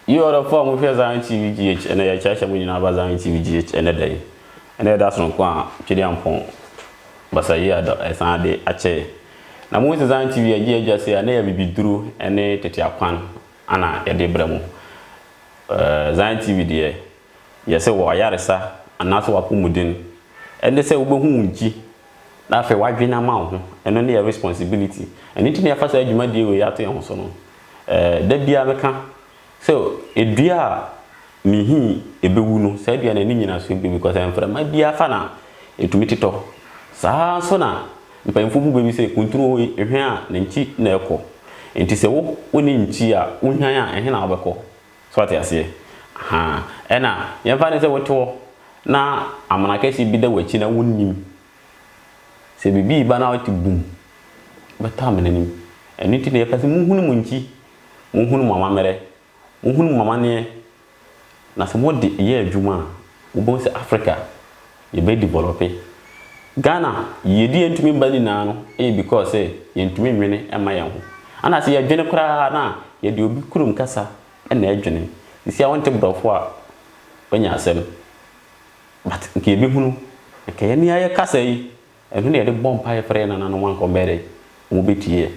Yi ɔdɔfo a mohwɛ Zion TV GH ɛnɛ yɛ kyerɛkyerɛ mo nyinaa ba Zion TV GH ɛnɛ da yi. Ɛnɛ yɛ da sononko a Twedi Ampɔn basa yi ada ɛsan ade akyɛ. Na mo sɛ Zion TV yɛ gye adwa se a na yɛ bibiduru ɛne tete akwan Ana yɛde brɛ mo. Ɛɛ Zion TV deɛ yɛ sɛ wɔ ayaresa anaasɛ wɔ apɔmuden. Ɛne sɛ wobɛhu wo nkyi na afei w'adwene ama wo ho. Ɛno ne yɛ responsibility. Ɛno nti na yɛafa saa dwumadie wei ato yɛn ho so no. Ɛɛ da biara meka sɛ dua a. Me hi ɛbɛwu no, saa dua no ani nyina so bɛwu because sɛ mframa bi afa no a, ɛtumi totɔ. Saa ara nso na mpanyimfoɔ bu bɛ bi sɛ kuntunu wɔ yi, hwan a ne nkyi na ɛkɔ. Nti sɛ wo wo ne nkyi a, wo hwan a, ɛhe na wo bɛkɔ? So wate aseɛ? Ahaa. Ɛna yɛmfa no sɛ wo te hɔ na amena kɛseɛ bi da w'akyi na wo nnim. Sɛ biribi reba na wo te bum, wo bɛtɔ amena no mu. Ɛno nti na yɛka sɛ mo hunu mo nkyi, mo hunu mo amammerɛ, Wohunu mo amanneɛ, na sɛ mode yɛ adwuma a, wobɛhu sɛ Africa, yɛbɛdivɔlɔpe. Ghana yiyedie a ɛntumi mma nyinaa no yɛ because sɛ yɛntumi nnwene mma yɛn ho. Ana sɛ yɛdwene koraa no a, yɛde obi kurom kasa na ɛdwene. Seesei a wonte borɔfo a, woanya asɛm. But nka yɛbɛhunu, nka yɛn ne yɛn ayɛ kasa yi. Ɛno na yɛde bɔ mpaeɛ frɛ yɛn nananom a nka wɔbɛyɛ dɛ wɔbɛtie yɛn.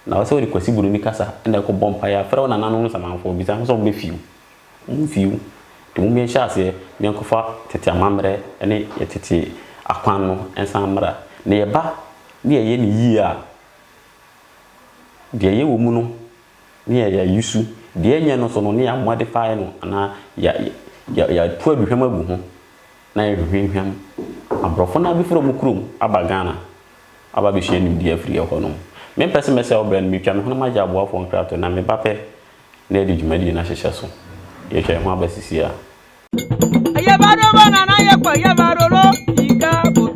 Na wo sɛ wode Kwasi Buroni kasa na ɛrekɔbɔ mpaeɛ a, frɛ wo nananom no samanfoɔ, bisa ho sɛ wɔbɛfii wo. Wɔmfii wo. Nti mom yɛnhyɛ aseɛ na yɛnkɔfa tete amammerɛ ne yɛn tete akwan no nsan mmra. Na yɛba na yɛyɛ no yie a, deɛ yɛwɔ mu no na yɛayɛ ayi su, deɛ ɛnyɛ no nso no na yɛamoa de faeɛ no anaa yɛatu aduhwam agu ho na yɛhwehwam aborɔfo no abefiri ɔmo kurom aba Ghana aba abesua nimdeɛ afiri ɛhɔ nom. Me mpɛ se mɛsɛe ɔbrɛ no, metwa me hwene magye aboafoɔ nkratoɔ na me ba pɛ na yɛde dwumadie no ahyehyɛ so. Yɛtwa yɛn ho aba sisiaa. Yɛba roba nana yɛkɔ yɛba roro yiga botɔ.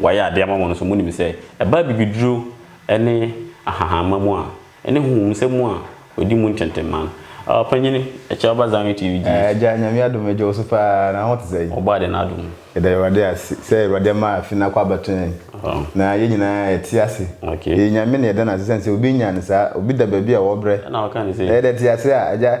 Wayɛ ade ama mo no, so munim sɛ ɛbaa bibiduro ne ahahamma mu a ɛne honhom nsɛm mu a wɔdi mu ntɛntɛmman? Ɔpanyin, kyɛ ɔba Zion TV gye Yesu. Agya, Nyame adom me, gye wo so paa, na wo ho te sɛn? Ɔbɔ ade n'adom mu. Yɛda Awurade ase sɛ Awurade ama afe no akɔ abɛto yɛn, na yɛn nyinaa yɛte ase. Yɛyɛ Nyame na yɛda no ase sɛn sɛ obi nyaa no saa, obi da baabi a ɔwɔ berɛ, na yɛde te ase a, Agya,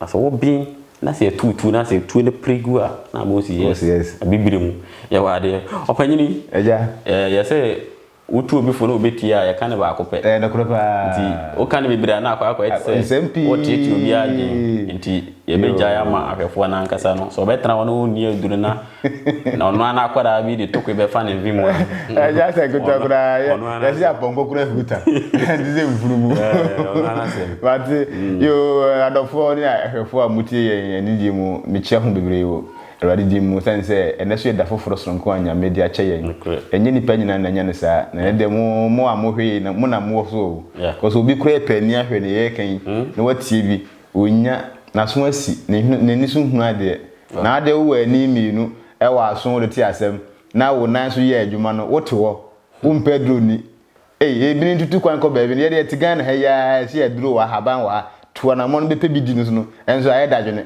Na sɛ wɔben na sɛ ɛtuutuu na sɛ tuo no pere gu a, na ama ɔsi yes. Ɔsi yes. Abibire mu. Yɛwɔ adeɛ. Ɔpanyini. Agya. Ɛɛ yɛ sɛ wotu obi fo na ɔbɛtie a, yɛka no baako pɛ. Ɛɛ nokorɛ paa. Nti woka no bebree a na akɔ akɔyɛ te sɛ. Nsɛm pii. Wɔteetee obiara adwene. Nti yɛbɛgyae ama ahwɛfoɔ no ankasa no. Sɛ ɔbɛtena hɔ na ɔnni aduro na. Na ɔno ara n'akwadaa bi de tokwe bɛfa ne mfe mu a. Ɛnyɛ asɛ nketewa koraa, yɛse apɔnkɔ kura huta, ɛnte sɛ mfunumu. But mm. yoo, adɔfoɔ ne ahwɛfoɔ a motie yɛn anigyeɛ mu, mekyia ho bebree wɔ Awurade din mu, sane sɛ ɛnɛ so yɛ da foforɔ soronko a Nyame de akyɛ yɛn. Ɛnyɛ nnipa nyinaa na ɛnya no saa, na ɛnɛ deɛ mo, mo a mohwɛ yi, mo na mowɔ so o. Because obi koraa pɛ ani ahwɛ deɛ yɛreka yi, hmm? na watie bi. Ɔnnya, n'aso asi, ne hwene, n'ani so hunu adeɛ. Na adeɛ wowɔ ani mmienu wɔ aso wode te asɛm, na wo nan so yɛ adwuma no, wote hɔ, wompɛ aduro nni. Ei, ebinom tutu kwan kɔ baabi no, yɛdeɛ yɛte Ghana ha yi ara, ɛse aduro wɔ ha, ahaban wɔ ha, tu anamɔn bɛpɛ bi di no so no, ɛnso ayɛ dadwene.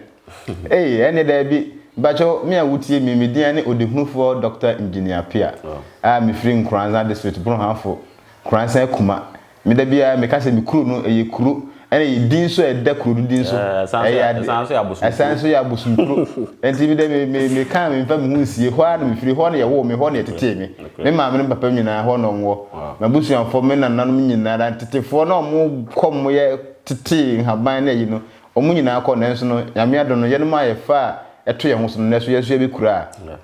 Ei, ɛnneɛ daabi. Mpakyɛw, me a wotie me yi, me din ara ne Ɔdehunufoɔ Dɔkta Engineer Appiah a mefiri Nkoranza District, Boronhafo, Nkoranza Kuma, Me da biara meka sɛ me kuro no ɛyɛ kuro ɛna ɛyɛ din nso a ɛda kuro no din so. Ɛyɛ ade. Ɛsan nso yɛ abosom kuro. Ɛsan nso yɛ abosom kuro. Ɛnti me dɛ me me me ka me nfa me ho nsie hɔ ara na me firi hɔ na yɛ woo me hɔ na yɛ tetee me. Me maame ne me papa nyinaa hɔ na wɔn wɔ. M'abusuafoɔ me nananom nyinara ntetefoɔ na wɔn kɔ wɔn yɛ tetee nhaban ne ayi no wɔn nyinaa kɔ nanso no Nyame adom no yɛnom a yɛ fa a ɛto yɛn ho so no nɛso yɛn nso yɛ bɛ kura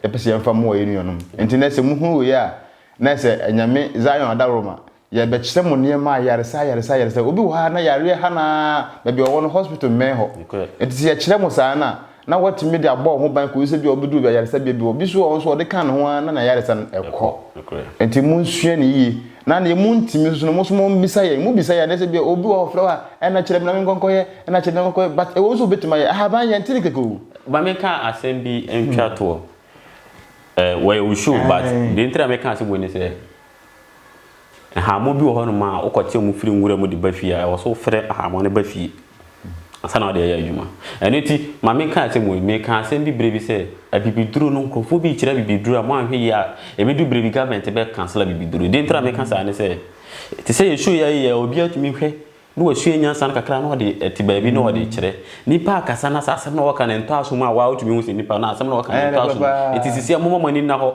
a yɛ pɛ sɛ yɛn fa moa yɛ nuanom. Ɛnti nɛ sɛ mo hunu wei a nɛ sɛ Nyame Zion Adaworoma Yɛrebɛkyerɛ mo nneɛma ayaresa ayaresa ayaresa. Obi wɔ ha a na yareɛ ha no ara, baabi a ɔwɔ no hospital mmɛn hɔ. Nti sɛ yɛkyerɛ mo saa no a, na woatumi de abɔ wo ho ban kɔsi sɛ bi a wobɛduru ayaresabea bi hɔ. Obi nso wɔ hɔ nso a ɔde ka ne ho ara na n'ayaresa no kɔ. Nti monsua no yie. Na deɛ montumi nso no, mo nso mommisa yɛn. Mobisa yɛn a, na sɛ bi a obi wɔ hɔ a ɔfrɛ wo a, ɛnna kyerɛ me na menkɔ nkɔyɛ, ɛnna kyerɛ me na menkɔ nkɔyɛ. But ɛwom sɛ wobɛtumi ayɛ. Ahaban, yɛnte no kɛkɛ o. Ma menka asɛm bi ntwa toɔ. Ɛɛ, wɔyɛ wo show but deɛ nti na meka asɛm wei ne sɛ, Nhaammoɔ bi wɔ hɔnom a, wokɔte wɔn firi nwura mu de ba fie a, ɛwɔ so wofrɛ nhaammoɔ no ba fie ansa na wode ayɛ adwuma. Ɛno nti, ma menka asɛm wei. Mekaa asɛm bi berɛ bi sɛ, abibiduro no, nkurɔfoɔ bi rekyerɛ abibiduro a, moanhwɛ yie a, ɛbɛdu berɛ bi government bɛ cancel abibiduro. Deɛ nti na meka saa ne sɛ, te sɛ yɛn show yi a yɛyɛ a, obiara tumi hwɛ na wasua nyansa no kakra na ɔde te baabi na ɔde rekyerɛ. Nnipa rekasa na sɛ asɛm na wɔka no ntɔ asom a, wo ara wotumi hu sɛ nnipa no asɛm na wɔka no ntɔ asom. Enti seesei momma mo ani nna hɔ.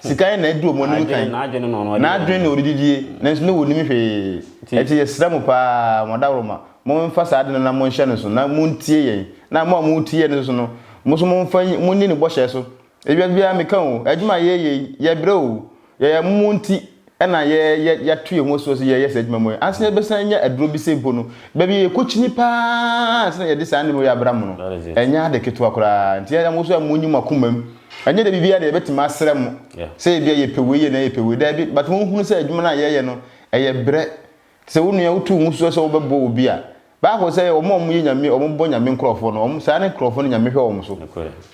Sika yɛ na adi wɔn anim kan. N'adwene na wɔde didie. N'adwene na wɔde didie. Nanso na wɔnnim hwee. Enti yɛsrɛ mo pa ara, mo adaworoma, momfa saa ade no na monhyɛ no nso, na montie yɛn. Na mo a moretie yɛn nso no, mo nso momfa nyi, monni ne bɔhyɛ so. Ewiase biara meka o, adwuma a yɛreyɛ yi, yɛbrɛ o, yɛyɛ mo nti, na yɛ yɛ yɛato yɛn ho asuo sɛ yɛyɛ saa adwuma mu yi ansa na yɛbɛsan anya aduro bi sɛ mpo no baabi a yɛkɔkyini paa ansa na yɛde saa nneɛma wei abra mo no That is it. ɛnyɛ ade ketewa koraa nti yɛn mo nso a monyi mo akoma mu ɛnyɛ dɛ biribiara deɛ yɛbɛtumi asrɛ mo Yeah. sɛ ebia yɛpɛ wei yɛ na yɛpɛ wei daabi but monhunu sɛ adwuma no a yɛyɛ no ɛyɛ brɛ Sɛ wo nua wotu wo so sɛ wobɛbɔ obi a, bible sɛ wɔn a wɔyɛ nyame wɔn bɔ nyame nkorɔfoɔ no wɔn saa ne nkorɔfoɔ no nyame hwɛ wɔn so.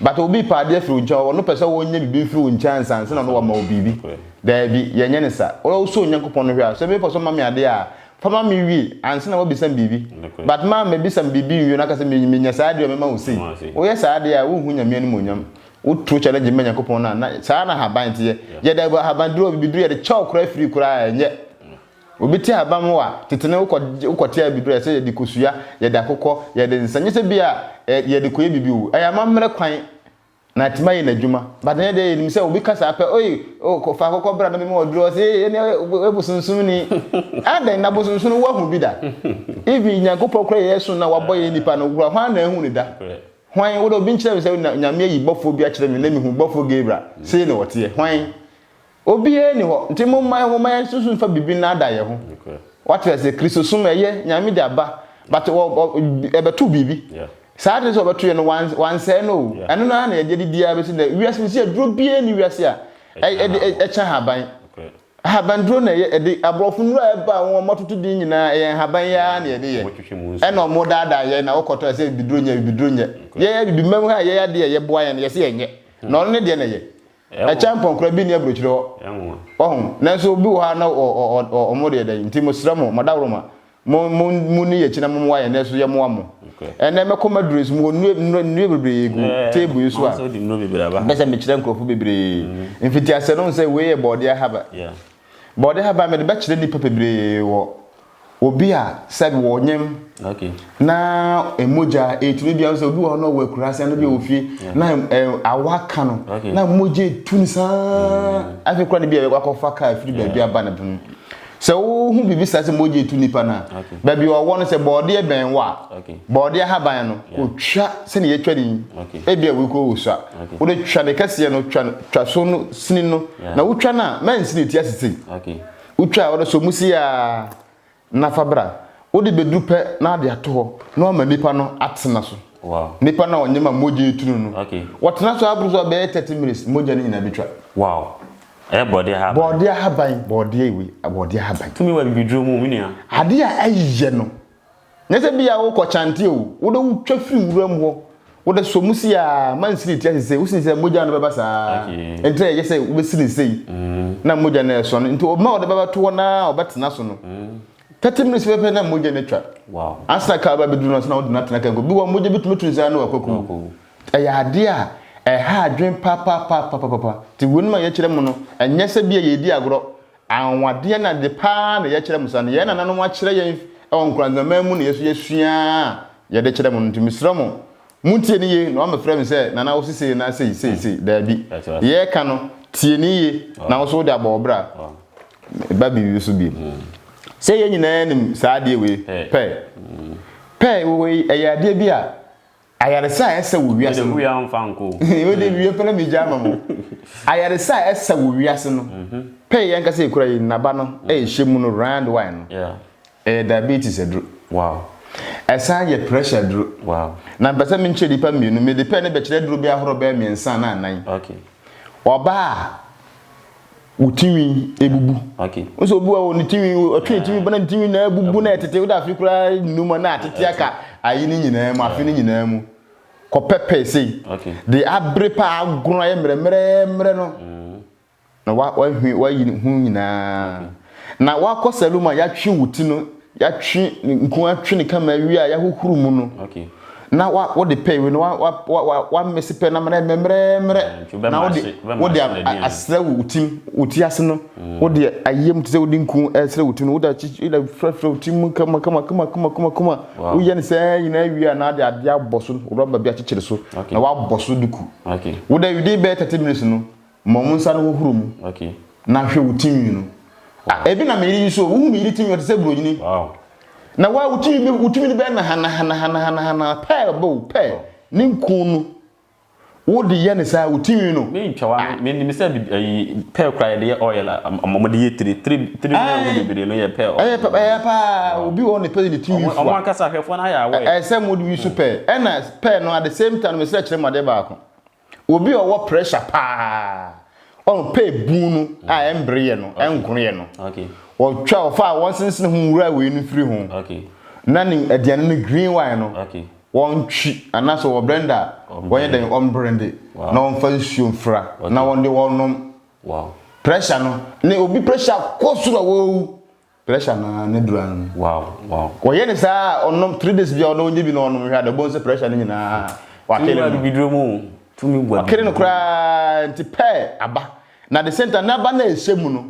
But obi pɛ adeɛ firi wo nkyɛn ɔno pɛ sɛ wɔnyɛ biribi mfiri wo nkyɛn ansa ansa na ɔno wama wo biribi. Daabi yɛnyɛ ne sa. Wo wosɔ Onyankopɔn no hwɛ a sɛ mepɛ sɛ ɔma me adeɛ a fa ma me wie ansa na wabisa me biribi. But ma mabisa me biribi nwie na aka sɛ me menya saa adeɛ a mɛma wo sei. Woyɛ saa adeɛ a wonhu nyame animuonyam. Wo tro challenge ma Nyankopɔn no a na saa na ahaban teɛ. Yɛde ahaban duro bibiduro yɛde kyɛ wo koraa firi koraa a ɛnyɛ. Obi te abam hɔ a, tete no wokɔ wokɔte abiduro a ɛsɛ yɛde kosua, yɛde akokɔ, yɛde nsa, nyɛ sɛ bi a yɛde kɔyɛ biribi o. Ɛyɛ amammerɛ kwan na atumi ayɛ n'adwuma. But ɛnyɛ deɛ yɛnim sɛ obi ka saa pɛ, oi, oh, fa akokɔ bra na mema ɔduro, ɔse, ee, ɛne woyɛ bosonsomni. Adɛn, na bosonsom no woahu bi da? Even Nyankopɔn koraa yɛyɛ so no a wabɔ yɛn nnipa no koraa, hwan na ahu no da? Hwan? Wo deɛ obi nkyerɛ me sɛ Nyame ayi bɔfoɔ bi akyerɛ me na mehu bɔfoɔ Gabriel, sei na ɔteɛ. Hwan? Obiara nni hɔ. Nti momma yɛn momma yɛn susu nfa biribi nnaadaa yɛn ho. Wate ase? Kristosom ɛyɛ Nyame de aba, but ɛbɛto biribi. Saa ade no sɛ ɔbɛto yɛ no, wansɛe no o. Ɛno no ara na yɛde adidi ara bɛsi nnɛ. Wiase sisi aduro biara nni wiase a ɛkyɛ nhaban. Nhabanduro na ɛyɛ ɛde aborɔfo nnuro a ɛba a wɔn atoto din nyinaa ɛyɛ nhaban yi ara na yɛde yɛ. Ɛna wɔn daadaa yɛn na wokɔtɔ ɛsɛ bibiduro nyɛ bibiduro nyɛ. Yɛn abibimam ha yɛn adeɛ a yɛboa yɛn no yɛse yɛnyɛ. Na ɔno ne deɛ na ɛyɛ. Ɛkyɛ mpɔnkora bi nni aburokyire hɔ. Wahu? Nanso obi wɔ hɔ a na ɔ, ɔ, ɔ, ɔ, wɔn deɛ dɛn. Nti mesrɛ mo, madaworoma, mo, mo, monni yɛn akyi na mommoa yɛn, nanso yɛmmoa mo. Ɛnnɛ mɛkɔ m'aduro yi so, mewɔ nnuro, nnuro, nnuro bebree gu table yi so a, mepɛ sɛ mekyerɛ nkurɔfo bebree. Mfitiaseɛ no, wohu sɛ wei yɛ Borɔdeɛ Haba. Borɔdeɛ Haba mede bɛkyerɛ nnipa bebree wɔ Obi a sɛbi wɔ ɔnyɛm na mogya etu no bi a sɛ obi wɔ hɔ na ɔwɔ akurase no bi wɔ fie mm. na awa ka no na mogya etu no saa mm. afei kura no bi a ɛbɛkɔ akɔfa kaa firi baabi aba no pono sɛ wohu biribi saa sɛ mogya etu nipa no a baabi ɔwɔ no sɛ bɔɔdeɛ bɛn wɔ a bɔɔdeɛ ahaban no kɔtwa sɛne yɛtwa ne yi ebi a wokɔ wɔ sua wode twa ne kɛseɛ no twa so no sini no na wotwa no a mɛnsini ti asesei Wotwaa hɔ no sɛ wɔsi aa na fa bra. Wode bɛduru pɛ na ade ato hɔ na wama nnipa no atena so. Nnipa no a wɔnyɛ ma mogya yi tunu no, wɔtena so aboro so a bɛyɛ 30 minutes mogya no nyinaa bɛtwa. Wow! Ɛyɛ bɔɔdeɛ ahaban. Bɔɔdeɛ ahaban. Bɔɔdeɛ wei, bɔɔdeɛ ahaban. Tumi wɔ abibiduro mu, me nua. Adeɛ a ɛyɛ no. Nyɛ sɛ bi a wokɔ kyante o, wode wo twa firi nwura mu hɔ, wode sɔ mu sei ara, mansini te ase sei, wosini sei a, mogya no bɛba saa ara. Ɛnti na ɛyɛ sɛ wobɛsini sei na mogya no ɛresɔ no. Nti ɔbɛma a wɔde bɛba to hɔ no ara a ɔbɛtena so no, 30 minutes pɛpɛpɛ na mogya no atwa. Ansa na car bɛbɛduru no, ansa na wode no atena car mu. Bi wɔ hɔ a mogya bi tumi tu no saa na wakɔku wo. Ɛyɛ adeɛ a ɛha adwene papaapa. Nti wei nom a yɛkyerɛ mo no, ɛnyɛ sɛ bi a yɛredi agorɔ, Anwanwadeɛ na ade pa ara na yɛkyerɛ mo saa no, yɛn nananom akyerɛ yɛn wɔ nkoranzaman mu na yɛn nso yɛasua ara a yɛde kyerɛ mo no nti mesrɛ mo, montie no yie na wɔammɛfrɛ me sɛ Nana wo se sei anaa sei sei sei, daabi, deɛ yɛreka no tie no yie na wo nso wode abɔ wo bra ba biribi so bio. Sɛ yɛn nyinaa nim saa adeɛ wei pɛɛ. Pɛɛ wei ɛyɛ adeɛ bi a Ayaresa a ɛsa wɔ wiase no. Mede wia mfa nkɔ o. Wode wia pɛ na megya ama mo. Ayaresa a ɛsa wɔ wiase no. Pɛyɛ yɛn ankasa ekura yi nnaba no ɛhyɛ mu no round one no. Ɛyɛ diabetes aduro. Wow. Ɛsan yɛ pressure aduro. Wow. Na mpɛ sɛ menkyerɛ nipa mmienu mede pɛɛ no bɛkyerɛ aduro bɛyɛ ahorow bɛyɛ mmiɛnsa anaa nnan. Okay. Ɔbaa a wo tinwi ebubu nso obi wɔ ne tinwi ɔtwe ne tinwi bana ne tinwi na ebubu na ɛtete wo da afi koraa nnuma na atete aka ayi ne nyinaa mu afi ne nyinaa mu kɔpɛpɛ sei de abere pa agono ayɛ mmerɛmmerɛmmerɛ no mm. na wahwe wayi ne ho nyinaa Na wakɔ salo mu a yɛatwe wo ti no, yɛatwe ne nku atwe ne kama awie a yɛahohoro mu no. Okay. Na wa wode pɛ we no wa wa wa wa mese pɛ na mmerɛ mmerɛmmerɛ. Mm, na wode wode asrɛ wo tim wo ti ase no. Mm. Wode ayɛ mu te sɛ wode nku ɛsrɛ eh, wo tim no wode akyi wode frɛfrɛ wo tim mu kama kama kama kama kama kama. Woyɛ ne sɛ nyinaa awie a na ade ade abɔ so rɔba bi akyekyere so. Na wabɔ so duku. Okay. Wode within bɛyɛ 30 minutes no. Ma wo nsa no hohoro mu na hwɛ wo tinwi no. Ah, ebi na me yere yi so, wohu me yere tinwi ɔte sɛ buronyini. Wow. Na wa wo tinwi bi wo tinwi no bɛyɛ na hana hana hana hana hana pɛɛ bo pɛ ne nku no. Wo de yɛ ne saa wo tinwi no. Me ntwa wa me nim sɛ ayi pɛɛ kura yɛ de yɛ oil a ɔmo de yɛ tiri tiri tiri no yɛ ɔmo bebree no yɛ pɛɛ oil. Ɛyɛ pɛɛ ɛyɛ paa obi wɔ ne pɛɛ ne tinwi fua. Ɔmo ankasa ahwɛfoɔ no ayɛ awɔ yɛ. Ɛsɛ mo de wi so pɛɛ ɛna pɛɛ no at the same time no me sɛ kyerɛ mo adeɛ baako. Obi a ɔwɔ pressure paa, ɔho pɛ ebun no a ɛmbre yɛ no, ɛnkono yɛ no. Ɔtwa ɔfa a wɔnsensene ho nwura wei no firi ho. Na ne aduane no green wine no, wɔntwi anaasɛ wɔ blender a, wɔnyɛ dɛn ɔmbrende na ɔmfa nsuo mfra na ɔde ɔnom. Pressure no, ne obi pressure kɔ soro a wawu Pressure no ara ne dura no. Wow wow. Wɔyɛ ne saa a ɔnom three days bia ɔno ɔnyɛ bi na ɔnom hwɛ ada ɔbɛhu sɛ pressure no nyinaa wakele no. Tumi gua biduro mu o. Tumi gua biduro mu. Wakele no koraa nti pɛɛ aba. Na the same time n'aba no a ɛhyɛ mu no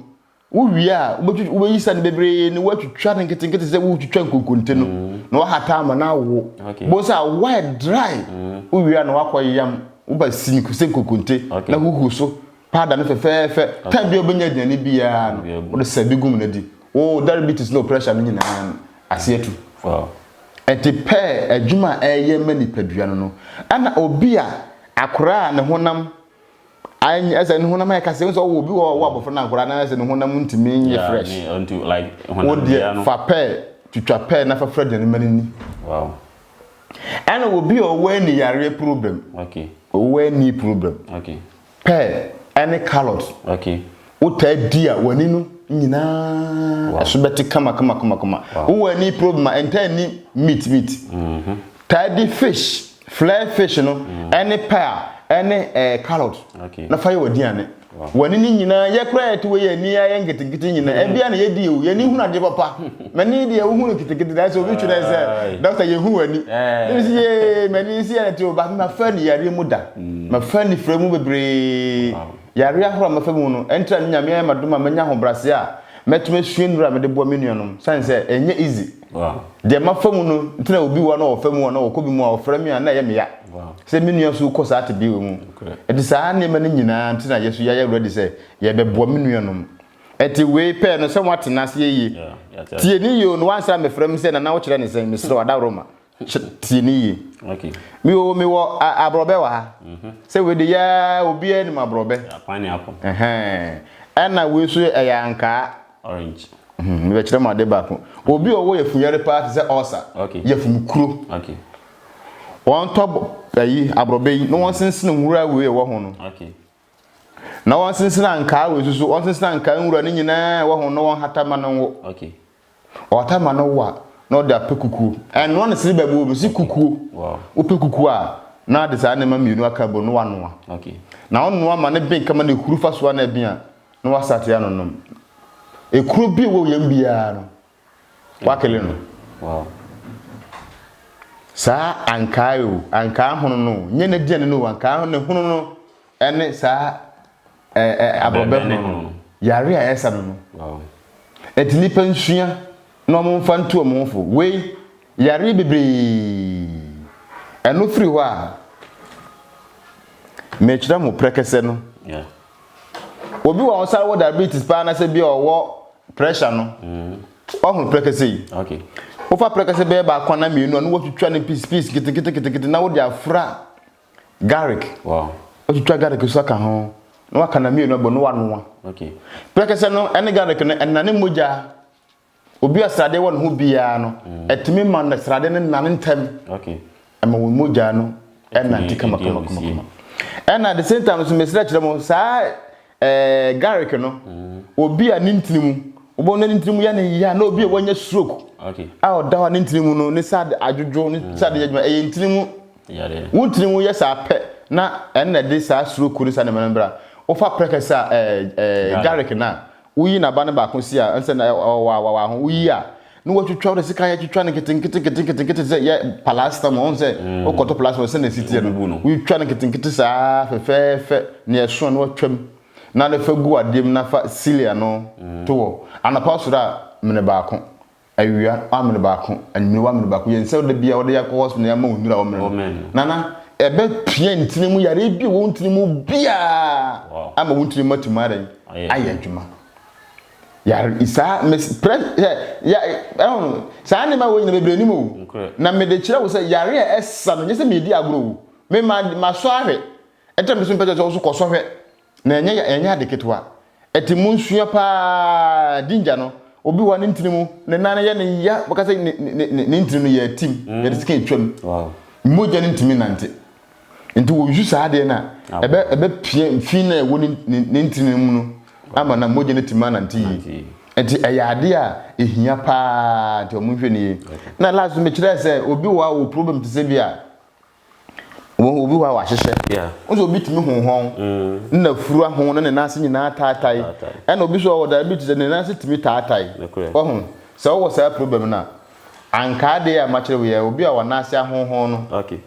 wo wie a wobɛyi sɛ no bebree na woatwitwa no nketenkete te sɛ wotwitwa nkonkonte no na woahata ama no awo. Wobɛhu sɛ awo ayɛ dry. Wo wie a na woakɔ yam woba sini sɛ nkonkonte na huhu so Paada no fɛfɛɛfɛ. Time bi a wobɛnya aduane biara no, wode sɛ bi gum no di. Wo diabetes ne wo pressure no nyinaa no, aseɛ tu. Ɛnti pɛɛ adwuma a ɛyɛ ma nipadua no no. Ɛna obi a akora a ne honam ayɛ ɛsɛ ne honam ayɛ kasa. Ɛsɛ ɔwɔ obi wɔ ɔwɔ abɔfra no akora na ɛsɛ ne honam ntumi nyɛ fresh. Wo deɛ fa pɛɛ twitwa pɛɛ na fa fira aduane ma no ni. Ɛna obi a ɔwɔ ani yareɛ problem. Ɔwɔ ani problem. Pear ne carrot. Okay. Wotaa di a w'ani no nyinaa ɛso bɛte kama kama kama kama. Wowɔ ani problem a ɛntaa nni meat meat. Mm-hmm. Taa di fish, flare fish no mm. ɛne pear ɛne ɛɛ eh, carrot. Okay. Na fa yɛ w'aduane. W'ani no nyinaa yɛ koraa yɛte wɔ yɛ ani ayɛ nketenkete nyinaa. Mm. Ɛbia na yɛdi o, yɛni hunu adeɛ papa. M'ani deɛ wohu no kitikiti nanso obi twerɛ sɛ dɔkta yɛhu w'ani ne si yee m'ani nsi yɛ te o baako mafa ni yareɛ mu da mm. mafa ni frɛ mu bebree yareɛ ahorow a mafa mu no ɛntra ne nyame ayɛ madom a manya ahobrɛaseɛ a mɛtumi asua nnuro a mede boa me nuanom sane sɛ ɛnyɛ easy deɛ mafa mu no nti na obi wa na ɔfa mu a na ɔkɔ bi mu a ɔfrɛ me a na ɛyɛ meya sɛ me nua so kɔ saa te bi wɔ mu ɛnti saa nneɛma no nyinaa nti na yɛso yɛayɛ awurade sɛ yɛbɛboa me nuanom Ɛte wei pɛɛ no sɛ woate no aseɛ yie. Tie ne yie o, na woansan mmɛfrɛ me sɛ Nana wokyerɛ ne sɛn, mesrɛ wo Adaworoma. Tie ne yie. Me o, mewɔ aborɔbɛ wɔ ha. Mhm. Sɛ wei de yaa obiara nim aborɔbɛ. Ɛna wei so ɛyɛ ankaa. Orange. Mhm, mebɛkyerɛ mo ade baako. Obi ɔwɔ yafumyare paa te sɛ ɔsa, yafumkuro. Wɔntɔ ayi aborɔbɛ yi na wɔnsensene nwura wei ɛwɔ ho no. Na ɔnsensena nkaa wɔ esu so, ɔnsensena nkaa nwura ne nyinaa ɛwɔ ho na ɔnhata ma no nwo. Okay. Ɔhata ma no wo a, na ɔde apɛ kukuo. Ɛnoa ne sere bɛbɔ mu, si kukuo. Wow. Wopɛ kukuo a, na de saa nneɛma mmienu aka bɔ na wanoa. Okay. Na ɔnoa ma ne ben kama na ehuru fa so a na ɛben a, na wasate anonom. Ekuro bi wɔ yɛn biara no, Wakele no. Wow. Saa ankaa o, ankaa hono no, nyɛ n'aduane no o, ankaa ne hono no ne saa ɛɛ abrɔbɛ hono no, yare a ɛsa no no. Wow. Eti nipa nsua na wɔn mfa ntu wɔn ho fo. Wei yare bebree. Ɛno firi hɔ a, mekyerɛ mo prɛkɛsɛ no. Yeah. obi wɔ ɔsan wɔ diabetes paa na sɛ bi a ɔwɔ pressure no ɔhono prɛkɛsɛ yi wofa prɛkɛsɛ bɛyɛ baako na mmienu a na wɔtwitwa no piece piece keteketekete na wode afra garlic wotwitwa garlic so aka ho na waka na mmienu abɔ no wanoa prɛkɛsɛ no ɛne garlic no ɛnane mogya obi a srade wɔ ne ho biara no, mm. ɛtumi ma no srade no nane ntɛm ɛma wɔn mogya no ɛnante kamakamakama ɛna at the same time nso mesrɛ kyerɛ mo saa ɛɛ eh, garlic no mm. obi a ne ntini mu wɔn ne ntini mu yɛ ne ya na obi a wɔnyɛ stroke a ɔda hɔ ne ntini mu no ne srade adwodwo ne mm. srade yɛ adwuma ɛyɛ ntini mu wo ntini mu yɛ saa pɛ na ɛna de saa stroke ne saa nneɛma no bra wofa prɛkɛsɛ a ɛɛ eh, ɛɛ eh, garlic no a. Woyi n'aba no baako si a, ɛne sɛ na ɛ, ɔ, wa, wa, wa ho. Woyi a, na wɔatwitwa, wode sekan atwitwa no nketenkete, nketenkete, nkete te sɛ yɛ palasta mu. Wohu sɛ wokɔtɔ palasta mu a, sɛnea ɛsi teɛ no, Wobubu no. wotwitwa no nketenkete saa fɛfɛɛfɛ, nea ɛsono no woatwa mu. Na de fa gu adeɛ mu na fa cilia no to hɔ. Anɔpa wosɔre a, mene baako. Awia amene baako, anwummerɛ amene baako, yɛn nsa da biara wɔde akɔ hospital na yɛama wɔn nnuro a wɔmene no. Nana, ɛbɛpia ntini mu yareɛ bi a ɛwɔ wo ntini mu biara ama wo ntini mu atumi adɛn ayɛ adwuma. Yare saa mes prɛ sɛ ya ɛho no saa nneɛma wɔ nyina bebree nim o. Na mede kyerɛ wo sɛ yare a ɛsa no nyɛ sɛ medi agorɔ o. Me ma masɔ ahwɛ. Ɛtɛm de so mpɛ sɛ wo so kɔsɔ hwɛ. Na ɛnyɛ ya, ɛnyɛ ade ketewa. Ɛte mu nsua paa, ginger no, obi wɔ a ne ntini mu, ne nan no yɛ no ya, bɛka sɛ ne, ne, ne, ne ntini no yɛ atim, yɛde sika atwa mu. Wow. Mogya no ntumi nnante. Nti wɔyusu saa adeɛ no a, Awo. ɛbɛ, ɛbɛpia fi no a ɛwɔ ne, ne, ne ntini no mu no ama na mogya no atumi anante yie. Nante yie. Nti ɛyɛ adeɛ a ɛhia paa, nti wɔnhwɛ no yie. Okay. Na last no mekyerɛɛ sɛ obi wɔ a ɔwɔ problem te sɛ bi a, Wɔhu obi hɔ a wɔahyehyɛ. Yeah. Wosɛ obi tumi hu hɔn. Mm. Na fura ho na ne nan ase nyinaa taatae. Ɛna obi so ɔwɔ diabetes ne nan ase tumi taatae. Wahu. Sɛ ɔwɔ saa problem no a, anka ade a makyerɛ wo yɛ obi a wɔn nan ase ahonhon no. Okay.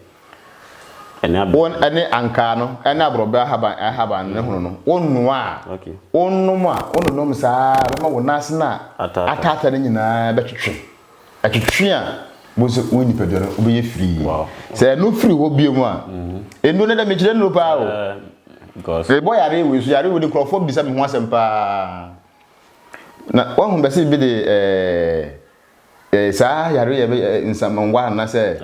Ɛne abɛ. Wɔn ɛne ankaa no ɛne aborɔbɛ ahaban ahaban no ne hono no. Wɔnoa a. Okay. Wɔnom a wɔnonom saa bɛma wɔn nan ase na ataata ne nyinaa bɛtwetwe. Ɛtwetwe a bohu sɛ wo nipadua no wobɛyɛ firii. Sɛ ɛno firi hɔ bio mu a, ɛnuro no dɛ mekyerɛ nuro paa o. Rebɔ yare wei so, yare wei de nkurɔfoɔ bisa me ho asɛm paa. Na wahu bɛse bi de ɛɛ saa yare yɛ bɛ nsamanwa anasɛ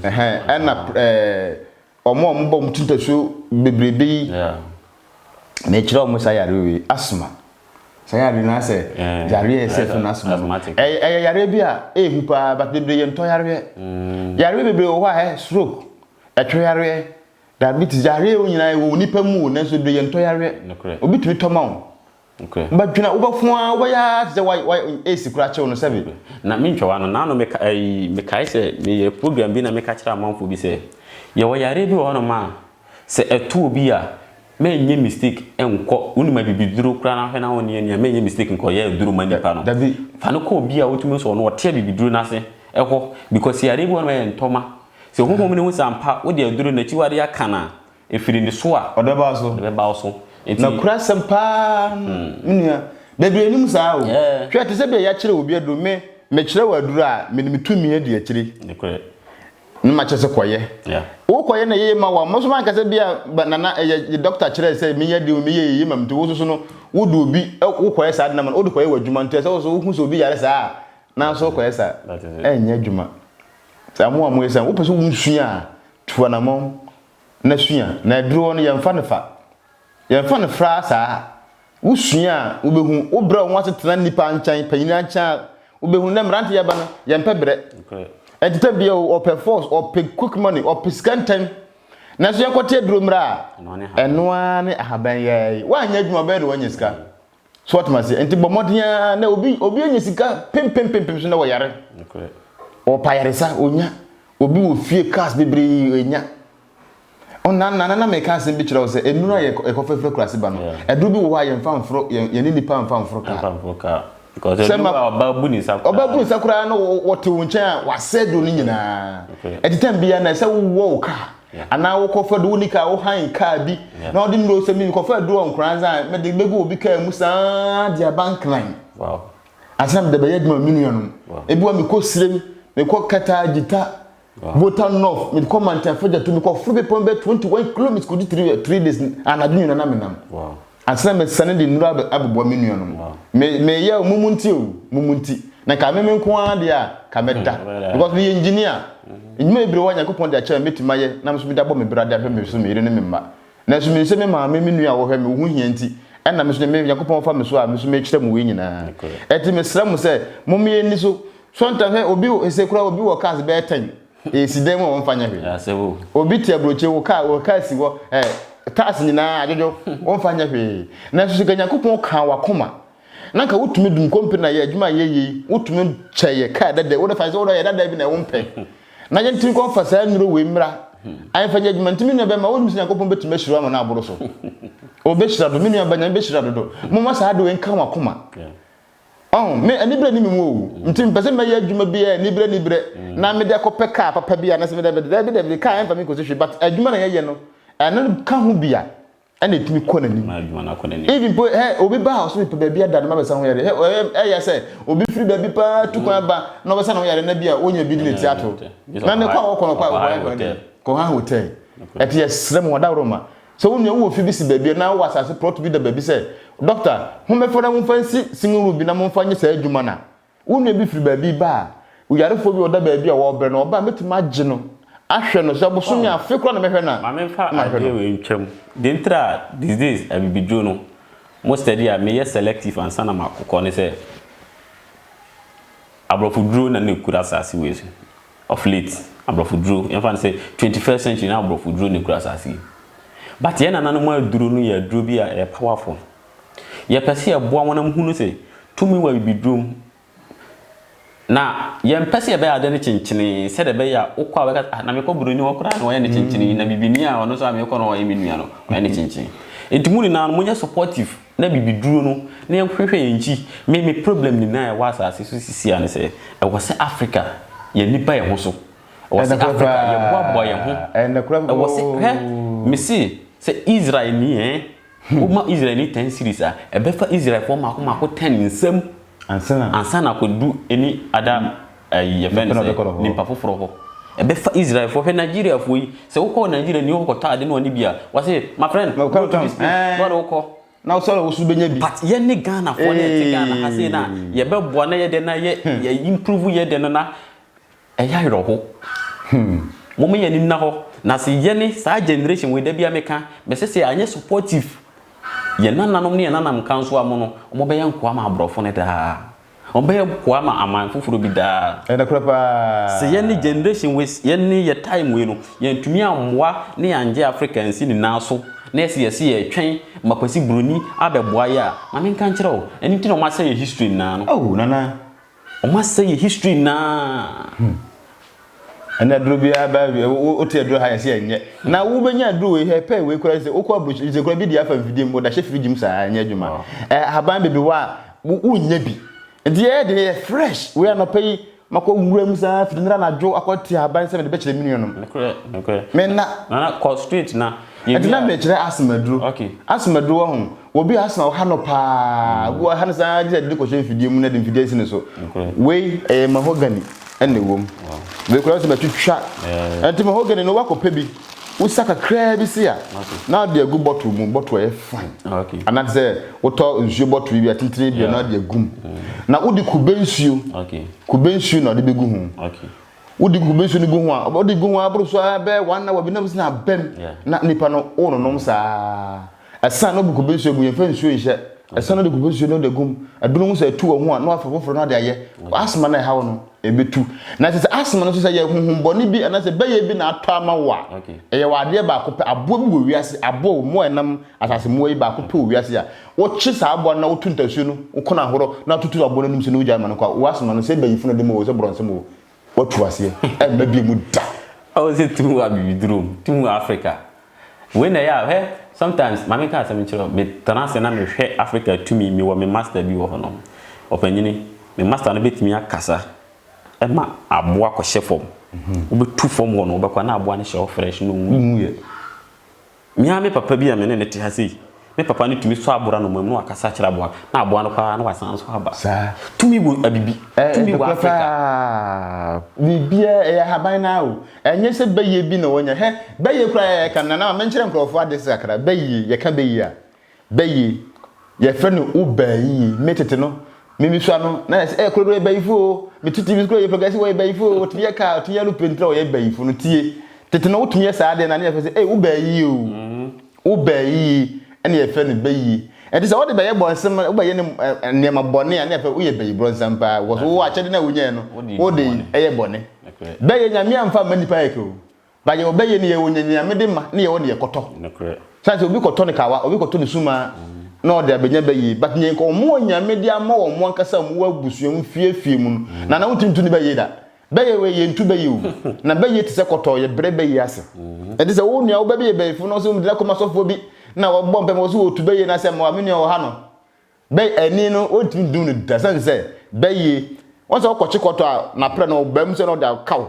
ɛhɛn ɛna ɛɛ wɔn a wɔbɔ wɔn ti mpɛso bebrebe yi na ɛkyerɛ wɔn saa yareɛ wei asma saa yareɛ no asɛ yareɛ ɛsɛ fɛ no asma ɛyɛ yareɛ bi a ɛhu paa but bebree yɛ ntɔ yareɛ mm. yareɛ bebree wɔ hɔ a ɛ stroke ɛtwɛ yareɛ diabetes yareɛ wo nyinaa wɔ nipa mu o nanso bebree yɛ ntɔ yareɛ obi tumi tɔ ma wo Ba dwena wo ba fun aa wo bɛyɛ aa te sɛ wa wa ace kura kyew no sɛbe. Na me ntwawa no naano me ka ɛyi me kae sɛ me yɛ program bi na me ka kyerɛ amanfoɔ bi sɛ yɛ wɔ yareɛ bi wɔ hɔ nom a sɛ ɛto obi a mɛ nyɛ mistake nkɔ wo nim abibiduro kura na hwɛ na wo nneɛ nneɛ a mɛ nyɛ mistake nkɔ yɛ aduro ma nipa no fa no kɔ obi a wo tumi sɔ no ɔte abibiduro no ase ɛhɔ because yareɛ bi wɔ hɔ nom a ɛyɛ ntɔma sɛ honhom no hu sɛ ampa wo de aduro no akyiwadeɛ aka no a Efi ne nniso a. Ɔde bɛba wo so. Ɔde bɛba wo so. Enti. Na kura asɛm paa. Me nua. Bebree nim saa o. Hwɛ, te sɛ bia yɛakyerɛ obi aduro. Me, mekyerɛ wo aduro a, mede me tumi adi akyire. Nokorɛ. Na makyerɛ sɛ kɔyɛ. Wokɔyɛ na ɛyɛ ma wo a, mo nso moanka sɛ bia Nana, ɛyɛ dɔkta kyerɛɛ sɛ menyɛ adeɛ o, meyɛɛ ɛyɛ ma me nti wo nso so no, wode obi, wokɔyɛ saa ade no ama no, wode kɔyɛ w'adwuma nti ɛsɛ sɛ wo nso wohu sɛ obi yare saa a, na nso wokɔyɛ saa. Ɛnyɛ adwuma. Saa mo a moyɛ saa, wopɛ sɛ wonsua a, Tu anammɔn na sua, na aduru hɔ no yɛmfa no fa. Yɛmfa no fra saa. Wosua a, wobɛhu. Wobrɛ wo ho ase tena nnipa nkyɛn, panyini nkyɛn a, wobɛhu. Nnɛ mmerante yɛba no, yɛmpɛ brɛ. Ɛnti tɛ bia o, ɔpɛ force, ɔpɛ quick money, ɔpɛ sika ntɛm. Nanso yɛnkɔte aduro mmra a, ɛno ara ne ahaban yɛɛi. Woanyɛ adwuma, bɛyɛ de woanya sika. so wɔtoma ase nti bɔ mmɔden ara na obi obi anya sika pempempempem so na wɔyare ɔpa yaresa onya obi wɔ fie cars bebree onya ɔna nana na mɛka asɛm bi kyerɛ wo sɛ nnuro a yɛkɔfɛfɛ kurase ba no ɛduro bi wɔ hɔ a yɛmfa mforo yɛne nipa mfa mforo kaa ɔba bu ne nsa koraa na wɔte wo nkyɛn a wasɛ duro no nyinaa ɛte tam biara na ɛsɛ wowɔ wo kaa Anaa wokɔfa do wo ne kaa, wo hann kaa bi na ɔde nnuro sɛ me kɔfa aduro wɔ Nkoranza a, mede bɛgu obi kaa mu saa de aba Nkran. Ansa na mede bɛyɛ adwuma me nuanom. Ebi wɔ mekɔ Sirem, mekɔ Kɛtɛ Agyita, Volta North, mekɔ Mantam Fagyato, mekɔforo bepɔ no bɛyɛ 21 kilometres kɔdi three days anadwo nyinaa na menam. ansa na mɛsane de nnuro abobɔ me nuanom. Me, meyɛ o, mumu nti o, mumu nti. Na nka me me nko ara deɛ a, ka mɛda. Because meyɛ engineer. Nnwuma bebree wɔ a Nyankopɔn de akyɛ me, mɛtumi ayɛ, na me nso mede abɔ me bra de ahwɛ me so, me yere ne me mma. Nanso menim sɛ me maame, me nua a wɔhwɛ me, wo ho hia nti, ɛna me nso, Nyankopɔn fa me so a, me nso mekyerɛ mo wei nyinaa. Ɛti mesrɛ mo sɛ, momma yɛnni so. Sometimes, hwɛ, obi, ɛsɛ koraa obi wɔ cars bɛyɛ ten. Esi dan mu a wɔmfa nyɛ hwee. Asɛm o. Obi te aburokyire wo kaa wɔ kaa si hɔ ɛ taas nyinaa adwodwo wɔmfa nyɛ hwee. Nanso sɛ Nyankopɔn kaa w'akoma na nka wotumi de nkonpene na yɛ adwuma a yɛyɛ yi wotumi kyɛ yɛ kaa dada wo defa sɛ wo yɛ dada bi na wompɛ na yɛntumi nkɔ mfa saa nnuro wei mmra ayɛmfa nyɛ adwuma nti me nua bɛma wonim sɛ Nyankopɔn bɛtumi ahyira ama no aboro so. Obehyira do me nua bɛnya bɛhyira dodo. Momma saa ade wei nka w'akoma. Ɔho, me, anibere nni me mu o, nti mepɛ sɛ mɛyɛ adwuma bi a anibere anibere na mede akɔpɛ kaa papa bi anaasɛ mede abɛde, daabi daabi, kaa ɛmfa me nkɔsi hwee, but adwuma na yɛyɛ no, ɛno ka ho bi a, ɛna ɛtumi kɔ n'anim. Even mpo, hɛ, obi ba a ɔse mepɛ baabi ada no mabɛsa ho yadeɛ, hɛ, ɛyɛ sɛ obi firi baabi paa tu kwan ba na ɔbɛsa ne ho yadeɛ na bi a ɔnya bi de n'ati ato, na ne kɔ a ɔkɔ no, kɔ a ɔkɔ, ɛnkɔ ne dɛn? Kɔhaa hotel. Ɛte yɛsrɛ mo, adaworoma, Sɛ wo nua wɔ ofi bi si baabi anaa ɔwɔ asase plɔt bi da baabi sɛ, Dɔkta, hom mbɛfa na momfa nsi singing room bi na momfa nyɛ saa edwuma no a, wo nua bi fir baabi ba a, oyarfo bi a ɔda baabi a wɔrebrɛ no, ɔba a, mɛtum agye no, ahwɛ no, sɛ bosome a, afe koraa na mɛhwɛ no a, Ma memfa na mahwɛ adeɛ no. wei ntwa mu. Deɛ nti a these days abibidwo no, mo study a meyɛ selective ansa na makokɔ ne sɛ, Aborɔfo duro na na ɛkura asase wei so. of late abrɔfo duro yɛnfa no sɛ twenty first century na abrɔfo duro na ekura asase yi but yɛn nananom aduro no yɛ aduro bi a ɛyɛ powerful yɛpɛ sɛ yɛboa wɔn na mo hunu sɛ tumi wɔ abibiduro mu na yɛmpɛ sɛ yɛbɛyɛ ade no kyenkyenee sɛdeɛ ɛbɛyɛ a wokɔ a bɛka ah na mekɔ buroni hɔ koraa na ɔyɛ ne kyenkyenee na bibini a ɔno nso a mekɔ no ɔyɛ me nua no ɔyɛ ne kyenkyenee nti mo nyinaa no monyɛ supportive na bibi duro no na yɛhwehwɛ yɛn nkyi me me problem nyinaa ɛwɔ asase so sisi a ne sɛ ɛwɔ sɛ Africa yɛn ani ba yɛn ho so ɛwɔ sɛ Africa yɛ boa boa yɛn ho ɛwɔ sɛ hɛ me se sɛ Israel ni ɛn wo ma Israel ni ten series a ɛbɛfa Israel foɔ mako mako ten nsam ansana kɔ du ɛni ada. ɛyi yɛfɛ no sɛ nipa foforɔ hɔ ɛbɛfa israelfoɔ hwɛ nigeriafoɔ yi sɛ wokɔ nigeria ni wokɔtɔ ade ne ɔne bi a wɔse my friend go to this place na ɔde wokɔ na wosɛ na wosu bɛnya bi but yɛne ghanafoɔ ne ɛte ghana ha sei no a yɛbɛboa na yɛdɛ na yɛ hmm. yɛ improve yɛdɛ no na ɛyɛ awerɛho hmm. moma yɛne nna hɔ na se yɛne saa generation wei da bia meka mɛsɛ sɛ anyɛ supportive yɛn nananom ne yɛn nanam nka nso amono wɔbɛyɛ nkoa ma aborɔfo no daa Wɔbɛyɛ koa ma aman foforɔ bi daa. Ɛyɛ nokorɛ paa. Sɛ yɛne generation wei, yɛne yɛ time wei no, yɛantumi ammoa ne yɛanngye Africa ansi ne nan so, na yɛse yɛse yɛretwɛn ma Kwasi Broni abɛboa yɛ a, ma menka nkyerɛ wo, ɛno nti na wɔasɛe yɛ history nyinaa no. Oh, Nana. Wɔasɛe yɛ history nyinaa. Hmm. ɛna aduro bi aba awie wote aduro ha yɛsɛ ɛnyɛ na wobɛnya aduro wei hɛ pɛ wei kora sɛ wokɔ aburokyiri sɛ kora bi di afa mfidie mu woda hyɛ firigye mu saa ɛnyɛ adwuma ahaban bebi hɔ a wonnya bi nti yɛyɛ de yɛ fresh wei anɔpɛ yi makɔ nwura mu saa firi nira nadwo akɔ te ahaban sɛ mede bɛkyerɛ me nuanom menna nana kɔ street na ɛnti na mekyerɛ asɛm aduro asɛm aduro wɔ ho Obi a ase na ɔha no paa. Obi wɔ hɔ a, ɛha no saa ara gye sɛ yɛde no kɔhyɛ mfidie mu na yɛde mfidie asi ne so. Wei, ɛyɛ mahogany na ɛwɔ mu. Wei koraa sɛ matwitwa. Ɛnti mahogany no woakɔpɛ bi, wosa kakraa bi sei a, na wode agu bottle mu, bottle a ɛyɛ fine. Anaa te sɛ wotɔ nsuo bottle bi a, tentene bi a, na wode agu mu. Na wode kube nsuo, kube nsuo na wode bɛgu ho. Wode kube nsuo no gu ho a, wode gu ho ara boro so ara bɛyɛ one hour bi na wobɛsi no aba mu na nipa no wononom saa ara. Ɛsɛn no gu kube nsuo mu, yɛmfa nsuo nhyɛ. Ɛsɛn no de kube nsuo no de gum. Ɛduru ho sɛ ɛtu wɔ ho a, na wafa foforɔ no ade ayɛ. Asthma no a ɛha wo no, ɛbɛtu. Na ɛsɛ sɛ asthma no nso sɛ ɛyɛ honhom bɔne bi anaasɛ bɛyɛ bi na atɔ ama wo a, ɛyɛ wɔ adeɛ baako pɛ, aboa bi wɔ wiase, aboa o, mmoa a ɛnam asase mmoa yi baako pɛ wɔ wiase a, wokye saa aboa no na woto ntasuo no, woko no ahorɔ na wototo aboa no anim so na wogyae ma no kɔ a, wo asthma no, sɛ ɛyɛ bayifo na ɛde ma wo o, sɛ borɔnsɛm o, Watu aseɛ, ɛmma bie mu da. Ɔwɔ sɛ tu hu abibiduro mu, tu hu Africa. Wei na ɛyɛ a, hwɛ, sometimes, ma menka asɛm nkyerɛ wo, metena ase na mehwɛ Africa tumi, mewɔ me master bi wɔ hɔ nom, ɔpanyini, me master no bɛtumi akasa ma aboa akɔhyɛ fam, wobɛtu fam hɔ no, wobɛkɔ a na aboa no hyɛ hɔ fresh, na ɔwuiɛ. Me ara me papa bi a me ne no te ha sei, me papa no tumi sɔ aboa no amoa mu na wakasa akyerɛ aboa no, na aboa no kɔ ara na wasan nso aba. Tumi wɔ abibi. Tumi wɔ Afrika. Ɛɛ, nokorɛ paa. Biribiara, ɛyɛ ahaban no ara o. Ɛnyɛ sɛ bɛyɛ bi na wɔnya. Hɛ, bɛyɛ koraa a yɛka no, Nana ma menkyerɛ nkorɔfoɔ ade kakra. Bɛyɛ, yɛka bɛyɛ a, Bɛyi, yɛfrɛ no Ubayi. Me tete no, me misua no, na yɛse, eh, kuro no yɛ Bayifo oo. Me tete misua no yɛ Progressive, wɔyɛ Bayifo oo. Wɔtumi yɛ car, wɔtumi yɛ aeroplane, nti na wɔyɛ Bayifo no. Tie, tete no wotumi yɛ saa adeɛ no a, na yɛfrɛ sɛ, eh, Ubayi oo. Ubayi, ɛna yɛfrɛ no Bɛyi. Ɛnti sɛ wode bɛyɛ bɔnsem, wobɛyɛ no eh, nneɛma bɔne a, na yɛfrɛ, woyɛ Bayi brɔnsam paa, because wowɔ akyɛde no a wonyaɛ no, wode yɛ bɔne. Bɛyɛ, Nyame amfa amma nnipa yɛkɛ oo. But yɛwɔ bɛyɛ no yɛwɔ nyanyiamede ma ne yɛwɔ deɛ kɔtɔ. Nokorɛ. Sane sɛ obi kɔtɔ ne kawa, obi kɔtɔ ne sumaa na ɔde abɛnya bɛyie but neɛ nka wɔn wɔ Nyame de ama wɔn ankasa a wɔn wɔ abusua mu fie fie mu no Nana wontumi nto ne bɛyie da. Bɛyɛ wei yɛ nto bɛyie o. Na bɛyie te sɛ kɔtɔ yɛ brɛ bɛyie ase. Ɛte sɛ wo nua wo ba bi yɛ bɛyifo na ɔse ɔmede no akɔ ma sɔfoɔ bi na wɔ bɔ mpaeɛ ma ɔse ɔtu bɛyie no ase a ma me nua wɔ ha no. Bɛ ani no, wontumi ndum no da osian sɛ bɛ ye. Wɔn sɛ ɔkɔ kyekɔtɔ a, n'aprɛ no ɔba mu sɛ na ɔde akaw.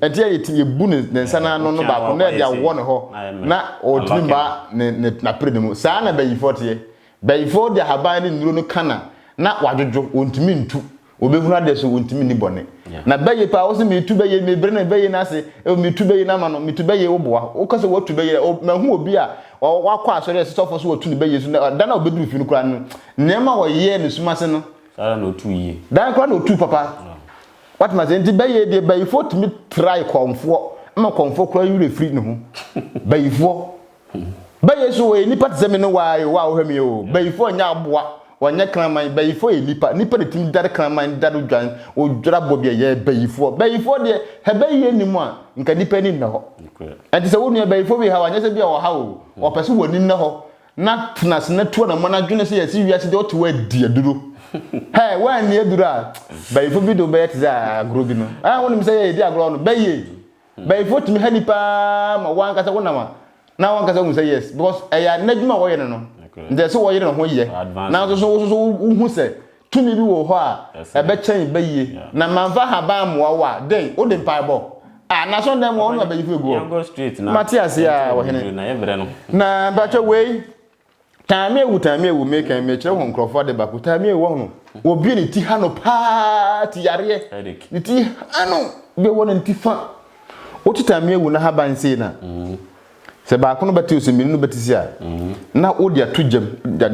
Ntsi yɛ yɛtse yebu ne ne nsa n'ano no baako na yɛde awɔ no hɔ na otumi mma ne ne n'aprɛ no mu. Saa na bayifɔr tse yɛ. Bayifɔr de ahaban ne nduro no ka na na ɔadwodwo, ontumi nntu. Wɔbɛhunu adeɛ so wɔntumi nni bɔne. Na bɛyɛ paa, wo se metu bɛyɛ, mebrɛ no bɛyɛ no ase, oh, metu bɛyɛ no ama no, metu bɛyɛ, woboa. Woka sɛ woatu bɛyɛ, oh, mahu obi a wakɔ asɔre a ɛsɛ sɛ ɔfɔ so watu ne bɛyɛ so, na da no a ɔbɛduru fie no koraa no, nneɛma a ɔyɛɛ ne sum ase no, saa ara na ɔtuu yie. Da no koraa na ɔtuu papa. Woatumi ase? Nti bɛyɛ deɛ, bayifoɔ tumi trae kɔmfoɔ ma kɔmfoɔ koraa werɛ firi ne ho. Bayifoɔ. Ba Yesu wɔyɛ nipa te sɛ me ne wo ara o, wo a wohwɛ me o. Bayifoɔ nyɛ aboa, wɔnyɛ kraman, bayifoɔ yɛ nipa, nipa na ɛtumi dare kraman, dare odwan, odwira bɔ bi a ɛyɛ bayifoɔ. Bayifoɔ deɛ, hɛ bayiyɛ nni mu a, nka nipa ani nnɛ hɔ. Ɛnti sɛ wo nua bayifoɔ bi haw a, nyɛ sɛ bi a ɔhaw o, ɔpɛ sɛ w'ani nnɛ hɔ, na tena ase na tu anamɔ na dwene sɛ yɛse wiase deɛ ɔte hɔ adi aduro. Hɛ, woanni aduro a, bayifoɔ bi de wo bɛyɛ te sɛ agorɔ bi no. Hɛ, wonim sɛ yɛ yɛdi agorɔ no, bɛyɛ. Bɛyifo tumi ha nipa ara ma wankasa wonam a na wankasa hu sɛ yes because ɛyɛ n'adwuma a wɔyɛ no no nti ɛsɛ wɔyere ne ho yɛ nanso so wososo wohu sɛ tumi bi wɔ hɔ a ɛbɛkyɛn bɛyie na manfa haban mmoa wo a dɛn wode mpaebɔ a na sɔn dɛn mu a wonum abɛyifo egu hɔ mate aseɛ a wɔhene na mpatwɛ wei Taame awu taame awu mekan mekyerɛ ho nkurɔfoɔ ade baako taame awu wɔhono wɔbie ne ti ha no paa ti yareɛ ne ti ha no bɛ wɔ no ne ti fa wote taame awu na ha ban sei na mm-hmm. sɛ baako no bɛte sɛ mmienu no bɛte si a mm-hmm. na wode ato gyam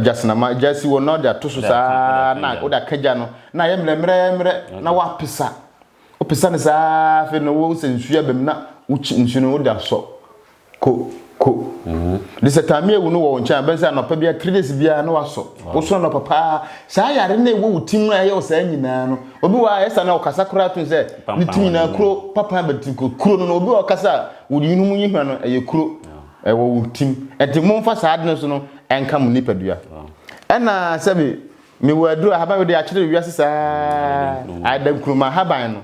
gyasenama gya si wɔ na wode ato so saa na wode aka gya no na ayɛ mmerɛmmerɛmmerɛ na woapesa wopesa no saa afei na wo sɛ nsuo abam na wokyi nsuo no wode asɔ Ko, ko. De sɛ Tamia wu no wɔ wo nkyɛn a, wobɛhu sɛ anɔpa biara, three days biara na wasɔ. Wosɔ anɔpa paa. Saa yare no a ɛwɔ wo tirim a ɛyɛ wo saa nyinaa no, obi wɔ hɔ a ɛyɛ saa na ɔkasa koraa to sɛ ne tirim nyinaa kuro, papan bɛ ti kuro. Kuro no no, obi wɔ hɔ ɔkasa a, wo yunu mu nyehwa no, ɛyɛ kuro. Ɛwɔ wo tirim. Ɛnti momfa saa ade no so no ɛnka mo nipadua. Ɛna sɛbi, mewɔ aduro, ahaban wei deɛ akyere wiase saa. Ada nkruma ahaban no.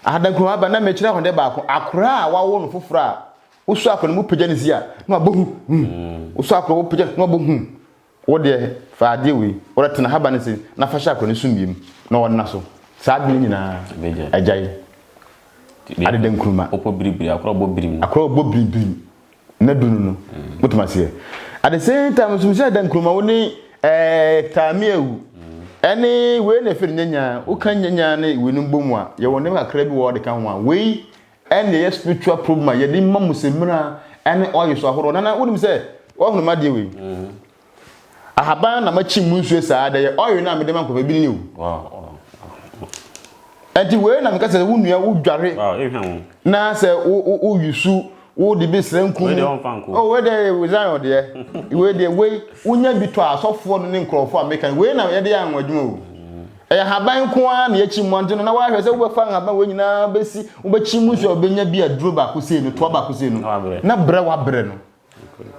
Ahadankum aba na mekyerɛ ho dɛ baako, akora a wɔawo no fofor a osu akora no mu pagya ne dzi a, na ɔabɔ hu, hu. Osu akora a wɔpagya no, na ɔabɔ hu. Wo deɛ, fa adeɛ wei, wo deɛ, tena ahaban no ase na fa hyɛ akora no sumii mu na ɔnna so. Saa adwene yi nyinaa, agyae. Adedankuruma. Wopɔ biribiri, akora a ɔbɔ birim no. Akora a ɔbɔ birimbirim. na du no no wotumi aseɛ at the same time nso sɛ da nkuruma wo ne ɛɛ taame awu ɛne wei na ɛfɛ no nyanya woka nyanya ne wei no bɔ mu a yɛwɔ nneɛma kakra bi wɔ ɔde ka ho a wei ɛne ɛyɛ spiritual problem a yɛde ma mu sɛ mmira ɛne ɔyɛ so ahorow nana wonim sɛ wɔhunu ma deɛ wei Ahaban na makyim mu nsuo saa dɛ yɛ oil no a mede ma nkurɔfoɔ ebi ni o. Ɛnti wei na meka sɛ wo nua wo dware na sɛ wo yusu wo de bi srɛ nkum. Oh wei deɛ wei Zion deɛ wei deɛ wei wonya bi tɔ asɔfoɔ no ne nkurɔfoɔ a meka wei na yɛde yɛ anwa adwuma o. Ɛyɛ ahaban nko ara na yɛkyim mu ante no na wahwɛ sɛ wobɛfa ahaban wei nyinaa bɛsi wobɛkyim mu nsuo a wobɛnya bi aduro baako sei no toa baako sei no na brɛ wabrɛ no.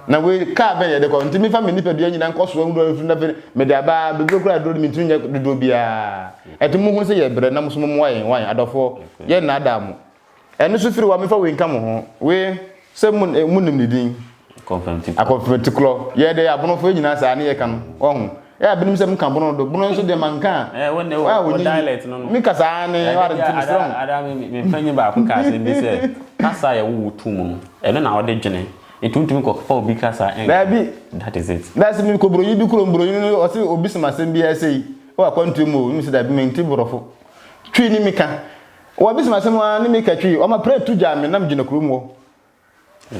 Na wei kaa bɛn yɛde kɔ? Ntumi fa me nipadua nyinaa nkɔ soa nwura mfiri na afei mede aba bebree koraa aduro no mentumi nyɛ dodoɔ biara. Ɛte mo hunu sɛ yɛbrɛ na mo so mommoa yɛn wan adɔfoɔ yɛn nnaadaa mo. Ɛno so firi hɔ a memfa wei nka mo ho. Wei sɛ mo monim ne din. Akɔmfɛntikorɔ. Akɔmfɛntikorɔ. Yɛde abonofoɔ nyinaa saa ne yɛka no. Wahu? Ɛyɛ a binom sɛ menka bono do. Bono nso deɛ manka a. Ɛɛ wo ne wo dialect no no. Me kasa ara ne ware nti me srɛ ho. Ada me me panyin baako ka asɛm bi sɛ kasa yɛ wo wo tu mu no. Ɛno na wɔde dwene. Nti wontumi kɔ fa obi kasa ɛnka. Daabi. That is it. That's me kɔ buronyi bi kuro buronyi no ɔse obi sɛm asɛm bi ɛsɛyi ɛwɔ akwantuo mu o ne me sɛ daabi menti borɔfo. Twi ne me ka. Wɔbi sɛm asɛm a ne me ka twi. Ɔma prɛ tu gyaa me nam gyina kuro mu hɔ.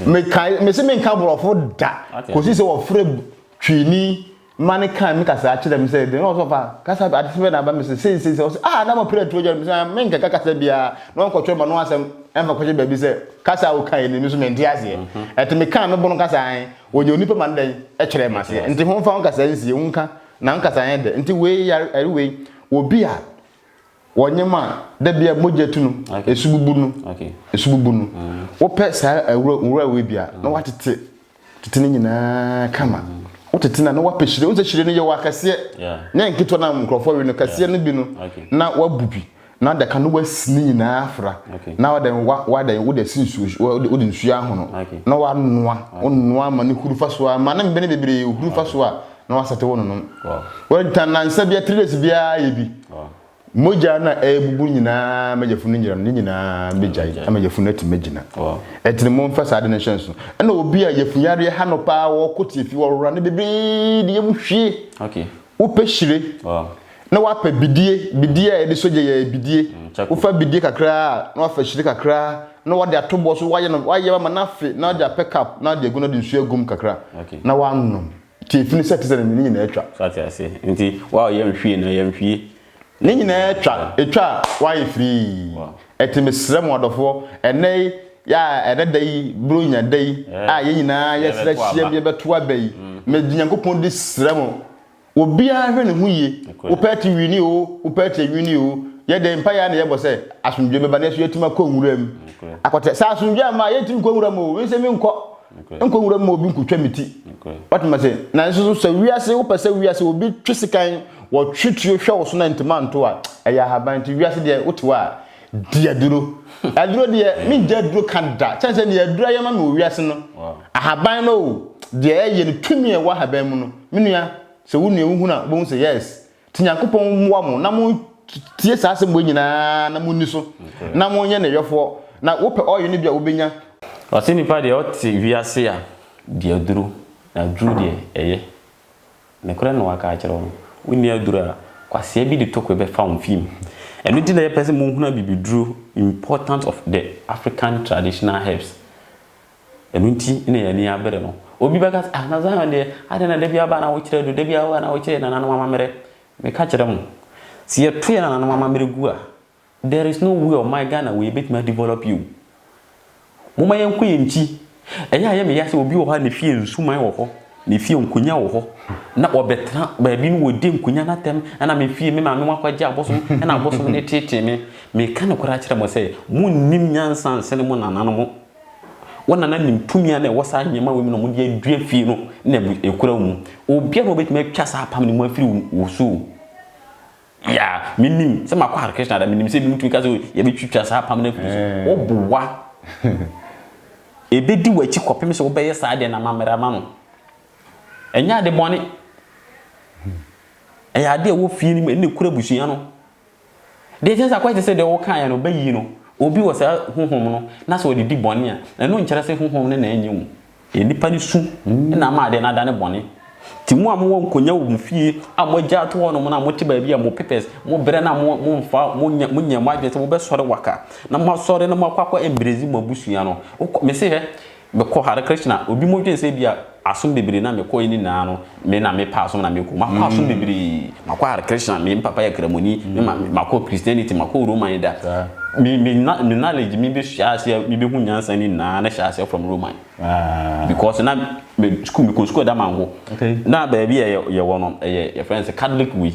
mekae mese menka borɔfo da kɔsi sɛ wɔfrɛ twini ma ne kan me kasaa kyerɛ me sɛ de na ɔsɔfa kasa ade sɛ na aba me sɛ sei sei sɛ ɔsɛ ah na mapere atuo gya me sɛ ah, menkɛka kasa biara na ɔnkɔtwerɛ ma no asɛm ɛmfa kɔhyɛ baabi sɛ kasa a wokae ni me so mente aseɛ mhm. ɛte mekaa me bono kasa an ɔnya onipa ma no dɛn ɛkyerɛ ma seɛ nti ho mfa wo nkasa nsie wo nka na nkasa yɛ dɛ nti wei yare wei obi a wɔnyem a da bia mogya tu no esu bubu no esu bubu no mm. wopɛ saa awura wura wei bia na mm. watete tete ne nyinaa kama mm. wotete na na wapɛ hyire wosɛ hyire no yɛ wɔ akɛseɛ ne nketewa no nkurɔfoɔ we no kɛseɛ no bi no na wabu bi na adaka no wasi ne nyinaa afra na wada wada wode si nsuo wode nsuo ahono na wanoa wonoa ma ne huru fa so a ma ne mbɛne bebree huru fa so a na wasɛte wo nonom wɛnta nansa bia three days biara yɛ bi mogya na ɛbubu nyinaa ma yɛfunu nyinam ne nyinaa bɛgyae ama yɛfunu atumi agyina ɛtene mo mfa saa de no hyɛ nso ɛna obi a yɛfunu yareɛ ha no paa wɔkɔ tie fi wɔwora ne bebree de yɛmu hwie wopɛ hyire na wapɛ bidie bidie a yɛde sogya yɛ bidie mm, wofa bidie kakraa na wafa hyire kakraa na wade ato bɔ so wayɛ no wayɛ ma na afe na wade apɛ cup na wade agu no de nsuo agum kakra na wanom Tie firi sɛ te sɛ ne nyinaa atwa. So ate ase nti wow yɛ nhwie na yɛ nhwie. Ne nyinaa atwa atwa wayɛ firii ɛte mesrɛ mo adɔfoɔ ɛnɛ yi yɛ a ɛnɛ da yi bronya da yi a yɛ nyinaa yɛ srɛ hyiam yɛ bɛto aba yi me Nyankopɔn di srɛ mo obiara hwɛ ne ho yie wo pɛ te wini oo wo pɛ te wini oo yɛ dɛn mpaeɛ ara na yɛ bɔ sɛ asomdwoeɛ bɛba nanso yɛ tumi akɔ nwura mu akɔtɛ sɛ asomdwoeɛ amma yɛ ntumi nkɔ nwura mu oo me nso me nkɔ. Nkɔ nwura mu ma obi nkotwa me ti. Wate ma se? Nanso so sɛ wiase wopɛ sɛ wiase obi twe sekan wɔ twe tuo hwɛ wo so na ntoma nto a, ɛyɛ ahaban nti wiase deɛ wote hɔ a di aduro. Aduro deɛ mengye aduro ka da sɛne sɛ deɛ aduro ayɛ ma me wɔ wiase no. Ahaban no o deɛ ɛyɛ no tumi a ɛwɔ ahaban mu no me nua sɛ wo nua wohunu a wobɛhu sɛ yes Nti Nyankopɔn mmoa mo na montie saa asɛm wei nyinaa na monni so na monyɛ ne yɔfoɔ, na wopɛ oil no bi a wobɛnya. Ɔse nipa deɛ ɔte wiase a di aduro na aduro deɛ ɛyɛ nokorɛ na waka akyerɛ wo no wonni aduro a kwasea bi de tokwe bɛfa wo fie mu ɛno nti na yɛpɛ sɛ mohunu abibiduro important of the African traditional herbs. Ɛno nti na yɛn ani abere no. Obi bɛka sɛ, Ah, na Zion deɛ, adɛn na da biara ba na wokyerɛ adu, da biara ba na wokyerɛ yɛn nananom amammerɛ? Meka kyerɛ mo, sɛ yɛto yɛn nananom amammerɛ gu a, there is no way ɔman Ghana wei bɛtumi a develop yi o. Momma yɛnkɔ yɛn nkyi. Ɛyɛ a ɛyɛ me ya sɛ obi wɔ hɔ a ne fie nsuman wɔ hɔ, ne fie nkonnwa wɔ hɔ, na ɔbɛtena baabi na ɔdi nkonnwa no atɛm, ɛna me fie, me maame mu akɔgye abosom, ɛna abosom no teetee me. Meka nokorɛ akyerɛ mo sɛ, monnim nyansa nsene mo nananom. Wɔn na na nim tumi a na ɛwɔ saa nneɛma wei mu na wɔde adua fie no na abu ekura wo mu. Obiara na ɔbɛtumi atwa saa apam no mu afiri wo so o. Yeah, menim sɛ makɔ Hare Krishna da, menim sɛ ebinom tumi ka sɛ yɛbɛtwitwa saa apam no afiri so. Woboa. Ɛbɛdi w'akyi kɔpem sɛ wobɛyɛ saa deɛ na mammara ma no. Ɛnyɛ ade bɔne. Ɛyɛ ade a ɛwɔ fie no mu, ɛna ɛkura abusua no. Deɛ ɛkyerɛ sɛ akɔyɛ te sɛ deɛ wokaeɛ no, bɛyi no, obi wɔ saa honhom no na sɛ ɔde di bɔne a, ɛno nkyerɛ sɛ honhom no na ɛnyɛ mu. Ɛyɛ nnipa no su na ama adeɛ no adane bɔne. Nti mo a mowɔ nkonwa wɔ mo fie a moagya ato hɔnom no a mote baabi a mo pepɛs, mo brɛ no a mo momfa, monyɛ, monyɛ mo adwene sɛ mobɛsɔre waka na moasɔre na moakɔ akɔ embrace mo abusua no, wokɔ, mese hwɛ, Mekɔ Hare Krishna, obi mo dwen sɛ ebia asom bebree na me kɔe ne nyinaa no me na me pɛ asom na me kɔ mu. Makɔ asom bebree, makɔ Hare Krishna, me papa yɛ Kramoni, me ma makɔ Christianity, makɔ Roman da. Me me me knowledge me bɛ hyɛ aseɛ me bɛ hu nyansa ne nyinaa na hyɛ aseɛ from Roman. Because na me school me kɔ school ɛda mango. Na baabi a yɛ yɛ wɔ no ɛyɛ yɛ friends Catholic wei.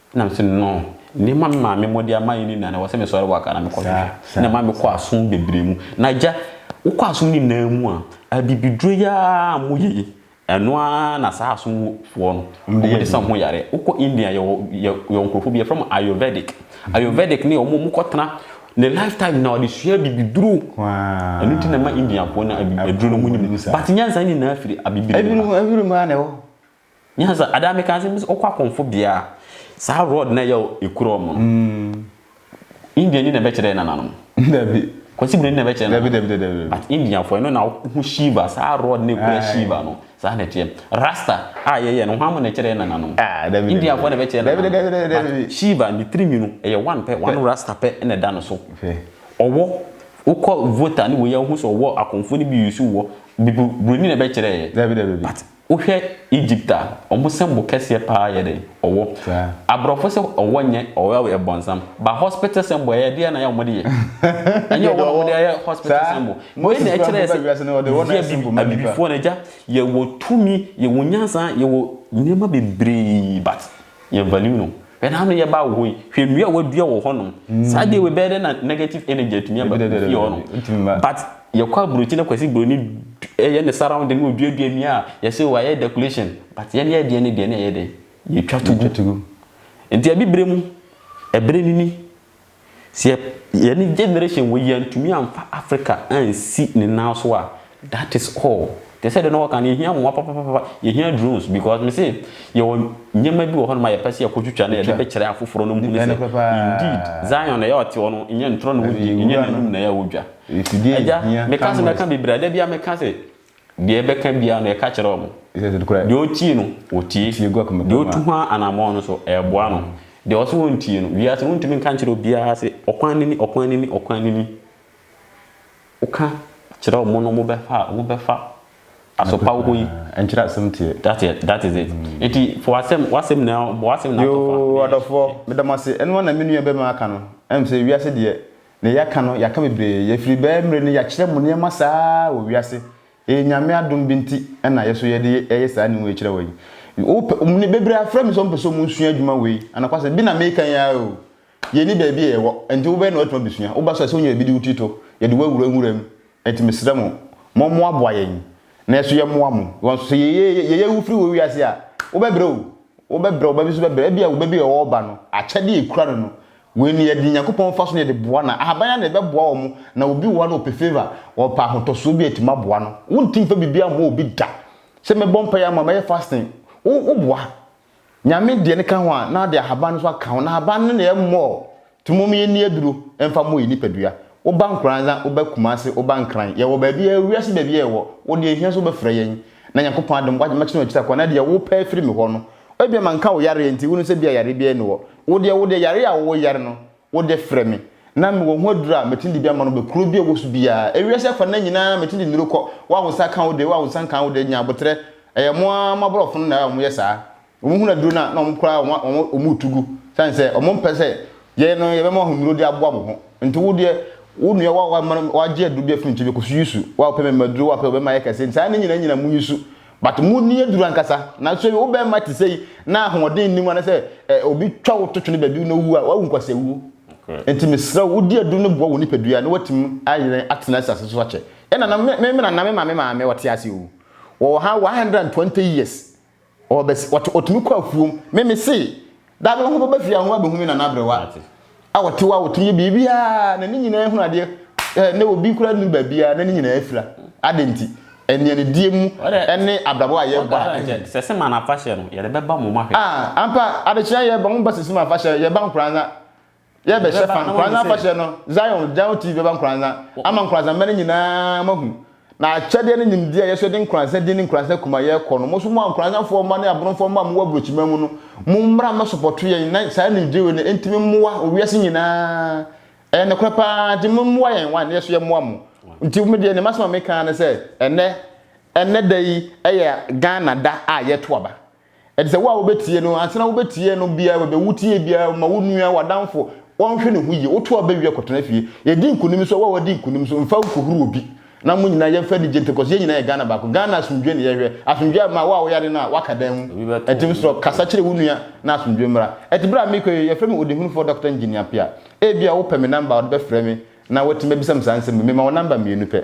Ɛna me se no no, nneɛma me maame mode ama yɛ no nyinaa no ɛwɔ sɛ me sɔre waka na me kɔ hwehwɛ. Ɛna maame kɔ aso bebree mu. Na agya, wo kɔ aso nyinaa mu a, abibiduro yi ara a mo yɛ yi, ɛno ara na saa aso foɔ no, wɔn de sa wɔn ho yareɛ. Wo kɔ India yɛ wɔ, yɛ wɔ nkorɔfoɔ bi yɛfrɛ wɔn Ayurvedic. Ayurvedic no yɛ wɔn a wɔn kɔ tena, ne life time nyinaa ɔde sua abibiduro. Ɛno nti na ɛma Indiafoɔ no abibiduro no wɔn nim. But nyansa nyinaa firi abibiduro mu ba. Ɛbinom, ɛbinom ara na ɛwɔ hɔ. Nyɛ saa adaa meka sɛ mese wokɔ akɔmfo bea a saa rod na ɛyɛ ekura wɔn no. Indian ni na ɛbɛkyerɛ yɛ nananom. Dabi. Kwasi Broni na ɛbɛkyerɛ nananom. Dabi dabi dabi. But Indian fo ɛno na ho Shiva saa rod na ekura Shiva no saa na ɛteɛ. Rasta a yɛyɛ no hwan mo na ɛkyerɛ yɛ nananom. Ah dabi. Indian fo na ɛbɛkyerɛ nananom. Dabi dabi dabi dabi. Shiva ne tirinwi no ɛyɛ one pɛ one rasta pɛ na ɛda no so. Ɔwɔ wokɔ voter ne wei a wohu sɛ ɔwɔ akɔmfo no bi use wɔ Broni na ɛbɛkyerɛ yɛ. Dabi dabi. But Wohwɛ Egypt a, ɔmo sɛ bo kɛseɛ paa yɛ dɛn? Ɔwɔ. Abrɔfo sɛ ɔwɔ nyɛ ɔwɔ yɛ bɔnsam. But hospital symbol ɛyɛ deɛ na yɛ ɔmo de yɛ. Ɛnyɛ ɔwɔ na ɔmo de ayɛ hospital symbol. Wei na ɛkyerɛ sɛ yɛ abibifoɔ no agya yɛwɔ tumi, yɛwɔ nyansa, yɛwɔ nneɛma bebree but. Yɛ value no. Bɛda ano yɛ baa wɔ hɔ yi. Hwɛ nnua a wɔadua wɔ hɔnom. Saa deɛ wei bɛyɛ dɛ na negative energy atumi aba fie hɔnom. Dabi dabi dabi. Ɛntumi mma. But yɛkɔ aburokyi na Kwasi Broni yɛ ne surrounding na ɔduadua nnua a yɛse o ayɛ decoration but yɛn yɛn deɛ no deɛ na ɛyɛ dɛn? Yɛtwa to gu. Yɛtwa to gu. Nti abibire mu, ɛbere no ni. Sɛ yɛ yɛne generation wei yɛantumi amfa Africa ansi ne nan so a that is all. Te sɛ deɛ na wɔka no yɛhia mmoa papapapa, yɛhia drones because me se yɛwɔ nneɛma bi wɔ hɔnom a yɛpɛ sɛ yɛkɔtwitwa na yɛde bɛkyerɛ afoforɔ na wɔhunu sɛ indeed Zion na ɛyɛ a ɔte hɔ no nyɛ ntorɔ na ɔdi, nyɛ n'anim na ɛyɛ a ɔdwa. Agya meka sɛ mɛka bebree a da biara meka sɛ Deɛ yɛbɛka biara no, yɛka kyerɛ wɔn. Deɛ ɔtie no, ɔtie. Deɛ ɔtu ho anammɔn no nso, ɛboa no. Deɛ ɔse ɔntie no, wiase no wontumi nka nkyerɛ obiara se, ɔkwan no ni, ɔkwan no ni, ɔkwan no ni. Woka kyerɛ wɔn no, wɔbɛfa a, wɔbɛfa. Asopa wo hɔ yi. Ɛnkyerɛ asɛm teɛ. That is, that is it. Nti fa w'asɛm, w'asɛm na, bɔ w'asɛm na ato fa. Yoo, adɔfoɔ, meda mo ase. Ɛno ara na me nua bɛrima aka no. Ɛm sɛ wiase deɛ, Ne yɛaka no yɛaka bebree yɛfiri bɛɛ mmerɛ ni yɛakyerɛ mo nneɛma saa ara wɔ wiase ɛyɛ Nyame adom bi nti ɛna yɛso yɛde ɛyɛ saa ne wei kyerɛ wɔ yi wopɛ bebree afrɛ me sɛ wɔpɛ sɛ wɔn sua adwuma wei anokwasɛm bi na meka yi ara oo yɛni baabi a yɛwɔ nti wobɛyɛ na watumi abɛsua woba so a sɛ wonya baabi de wo ti to yɛde wo awura nwura mu Enti mesrɛ mo, mommoaboa yɛn, na yɛn nso yɛmmoa mo. Wɔ nso, sɛ yɛyɛ wo firi wɔ wiase a, wobɛbrɛ o, wobɛbrɛ, wo ba bi nso bɛbrɛ. Ebia wo ba bi a ɔwɔ ɔba no, akyɛde a ɛkura no no, wei no, yɛde Onyankopɔn mfaso na yɛde boa no a, ahaban ara na ɛbɛboa wɔn, na obi wɔ hɔ a na ɔpɛ favour, ɔpɛ ahotɔsoɔ bi a, yɛtumi aboa no. Wonte mfa biribiara mmɔ obi da. Sɛ mɛbɔ mpaeɛ ama wo, mɛyɛ fasting, wo, woboa. Nyame deɛ no ka ho a na ade ahaban no nso aka ho na ahaban no na ɛmmɔɔ nti mom yɛnni aduro mfa mmɔ yɛn nipadua woba nkoranza woba kumase woba nkran yɛwɔ baabi a wiase baabi a yɛwɔ wo deɛ hia sɛ wobɛfrɛ yɛn na Nyankopɔn adom wagye mɛkyena akyiri akɔ na deɛ wopɛ afiri me hɔ no ebia manka wo yareɛ nti wonim sɛ bia yareɛ biara ni hɔ wo deɛ wo deɛ yareɛ a wo yare no wode frɛ me, na mewɔ ho aduru a metumi de bi ama no bɛ kuro bi a ɔwɔ so biara. Ewiase afa nna nyinaa metumi de nnuro kɔ, wo a wo nsa ka wo de, wo a wo nsa nka wo de, nya aboterɛ. Ɛyɛ mo ara mo aborɔfo no na wɔyɛ saa. Wɔhunu aduro no a, na wɔn koraa wɔn wɔn retu gu, sane sɛ wɔmpɛ sɛ yɛn no yɛbɛma wɔn nnuro de aboa mo ho. Nti wo deɛ, wo nua wo a wama no wagye aduro bi afiri me nkyɛn, mekɔso yi su. Wo a wopɛ mɛma aduro, wo a wopɛ mɛma ayɛ kɛse, nti saa nna nyinaa nyina monyi su. But mood no yɛ duru ankasa. Nanso wo bɛrima te sɛi na ahoɔden nni mu anasɛ eh, obi twa wo to twene baabi na owu a, wawu nkwasawuo. Nti mesrɛ wo, di aduru no boa wo nipadua na woatumi ayerɛn atena asase so akyɛ. Ɛna na me me nana me maame maame ɔte ase o. Ɔwɔ ha 120 years. Ɔwɔ bɛs, ɔte, ɔtumi kɔ afuom. Me mese. Da no ho bɛba fie a, ho abɛhu me nana aberewa a ɔtew a ɔtumi yɛ biribiara na ne nyinaa hunu adeɛ eh, na obi koraa nnim baabiara na ne nyinaa afira. Adɛn nti? Anianidie mu ne abrabɔ a yɛbɔ a ɛnyɛ. Sɛseman afahyɛ no, yɛde bɛba mo mahwɛ. Ah, ampa, adekyea yɛba, momba Sɛseman afahyɛ, yɛba nkoraa na Yɛ bɛ hyɛ fa nkoranza afahyɛ no, Zion, Jayo TV bɛba nkoranza ama nkoranzamba no nyinaa moahu, na akyɛdeɛ ne nimdeɛ a yɛso yɛde nkoranza din ne nkoranza kuma yɛkɔ no, moso mo a nkoranzafoɔ mma ne abronfoɔ mma a mowɔ abrokyiman mu no, mommra mmɛsopɔto yɛn na saa nimdyewe no ntimi mmoa wiase nyinaa, ɛyɛ nokorɛ paa, nti mommoa yɛn one na yɛso yɛmoa mo, nti me deɛ ne masɛm a meka ara ne sɛ ɛnɛ, ɛnɛ da yi yɛ Ghana da a yɛto aba. Ɛte sɛ wo a wobɛtie no, ansa na wobɛtie no biara, wobɛwu tie biara, woma wo nua, w'adamfo, wɔnhwɛ ne ho yie, woto aba wie a, kɔtena fie. Yɛdi nkonim so a, wo a woadi nkonim so, mfa nkɔhuru obi, na mo nyinaa yɛmfa anigye ntena, cos yɛn nyinaa yɛ Ghana baako. Ghana asomdwoeɛ na yɛhwɛ. Asomdwoeɛ ama wo a woyɛ ade no a, woaka dan mu. Ɛnti mesrɛ wo, kasa kyerɛ wo nua na asomdwoeɛ mmra. Ɛte berɛ a merekɔ yi, yɛfrɛ me Ɔdehunufoɔ Dɔkta Engineer Appiah. Ebia wopɛ me number a, wode bɛfrɛ me na woatumi abisa me saa nsɛm yi. Mema wo number mmienu pɛ.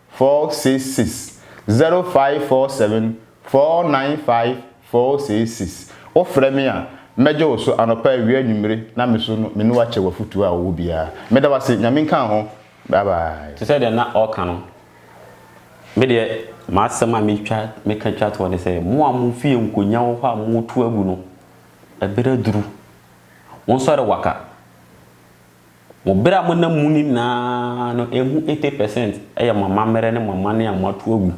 466 0547 495 466 Wofrɛ me a, mɛgye wo so anɔpa, awia, anwummere, na me so no, me ne wo akyɛ w'afotuo a wowɔ biara. Meda wo ase. Nyame nka wo ho. Bye bye. Te sɛ deɛ na ɔreka no, me deɛ m'asɛm a mɛtwa mɛka twa toɔ ne sɛ, mo a mo fie nkonnwa wɔ hɔ a moretu agu no, ɛberɛ aduru. Monsɔre waka. Mo bere a monam mu nyinaa no, ɛho eighty percent yɛ mo amammerɛ ne mo amanne a moato agu.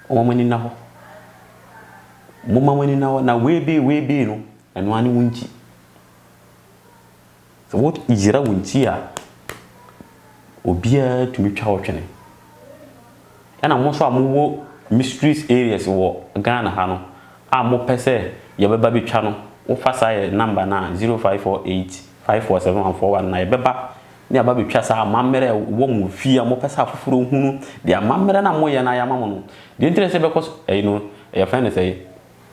Momma mo ani nna hɔ. Momma mo ani nna hɔ. Na weebee, weebee no, ɛno ara ne wo nkyi. Sɛ woyera wo nkyi a, obiara tumi twa wo twene. Ɛna mo nso a mo wɔ mysteries areas wɔ Ghana ha no a mo pɛ sɛ yɛ bɛ ba bɛ twa no wo fa saa yɛ number no a zero five four eight five four seven one four one na yɛ bɛ ba na yɛ aba bɛ twa saa amammerɛ a ɛwɔ mo wɔ fie a mo pɛ sɛ afoforɔ nhunu deɛ amammerɛ no a mo yɛ no a yɛ ama mo no deɛ nti na ɛsɛ yɛ bɛ kɔ so ɛyi no yɛ fɛn no sɛɛ.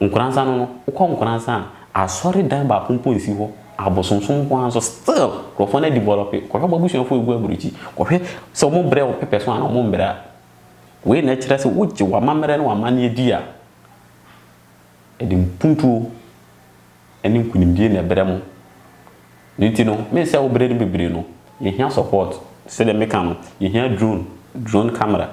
Nkoransa no no, wokɔ Nkoransa a, asɔredan baako mpo nsi hɔ, abosonsom nko ara nso still nkurɔfoɔ no adi bɔlɔpe, kɔhwɛ w'abusuafoɔ a ɛgu aburukyi, kɔhwɛ sɛ wɔbrɛ wo pɛpɛ so anaa wɔmbrɛ a, wei na ɛkyerɛ sɛ wogye w'amammerɛ ne w'amanneɛ di a, ɛde mpuntuo ne nkunimdie na ɛbrɛ mo no nti no me sɛ wo brɛ no bebree no yɛhia support sɛdeɛ meka no yɛhia drone drone camera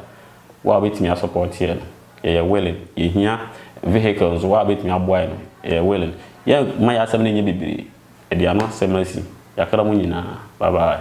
wo a wobɛtumi a support yɛn no yɛyɛ willing yɛhia vehicle nso wo a wobɛtumi aboa yɛn no yɛyɛ willing yɛ ma yɛ asɛm no nyɛ bebree ɛde ano asɛm asi yɛakra mo nyinaa bye bye.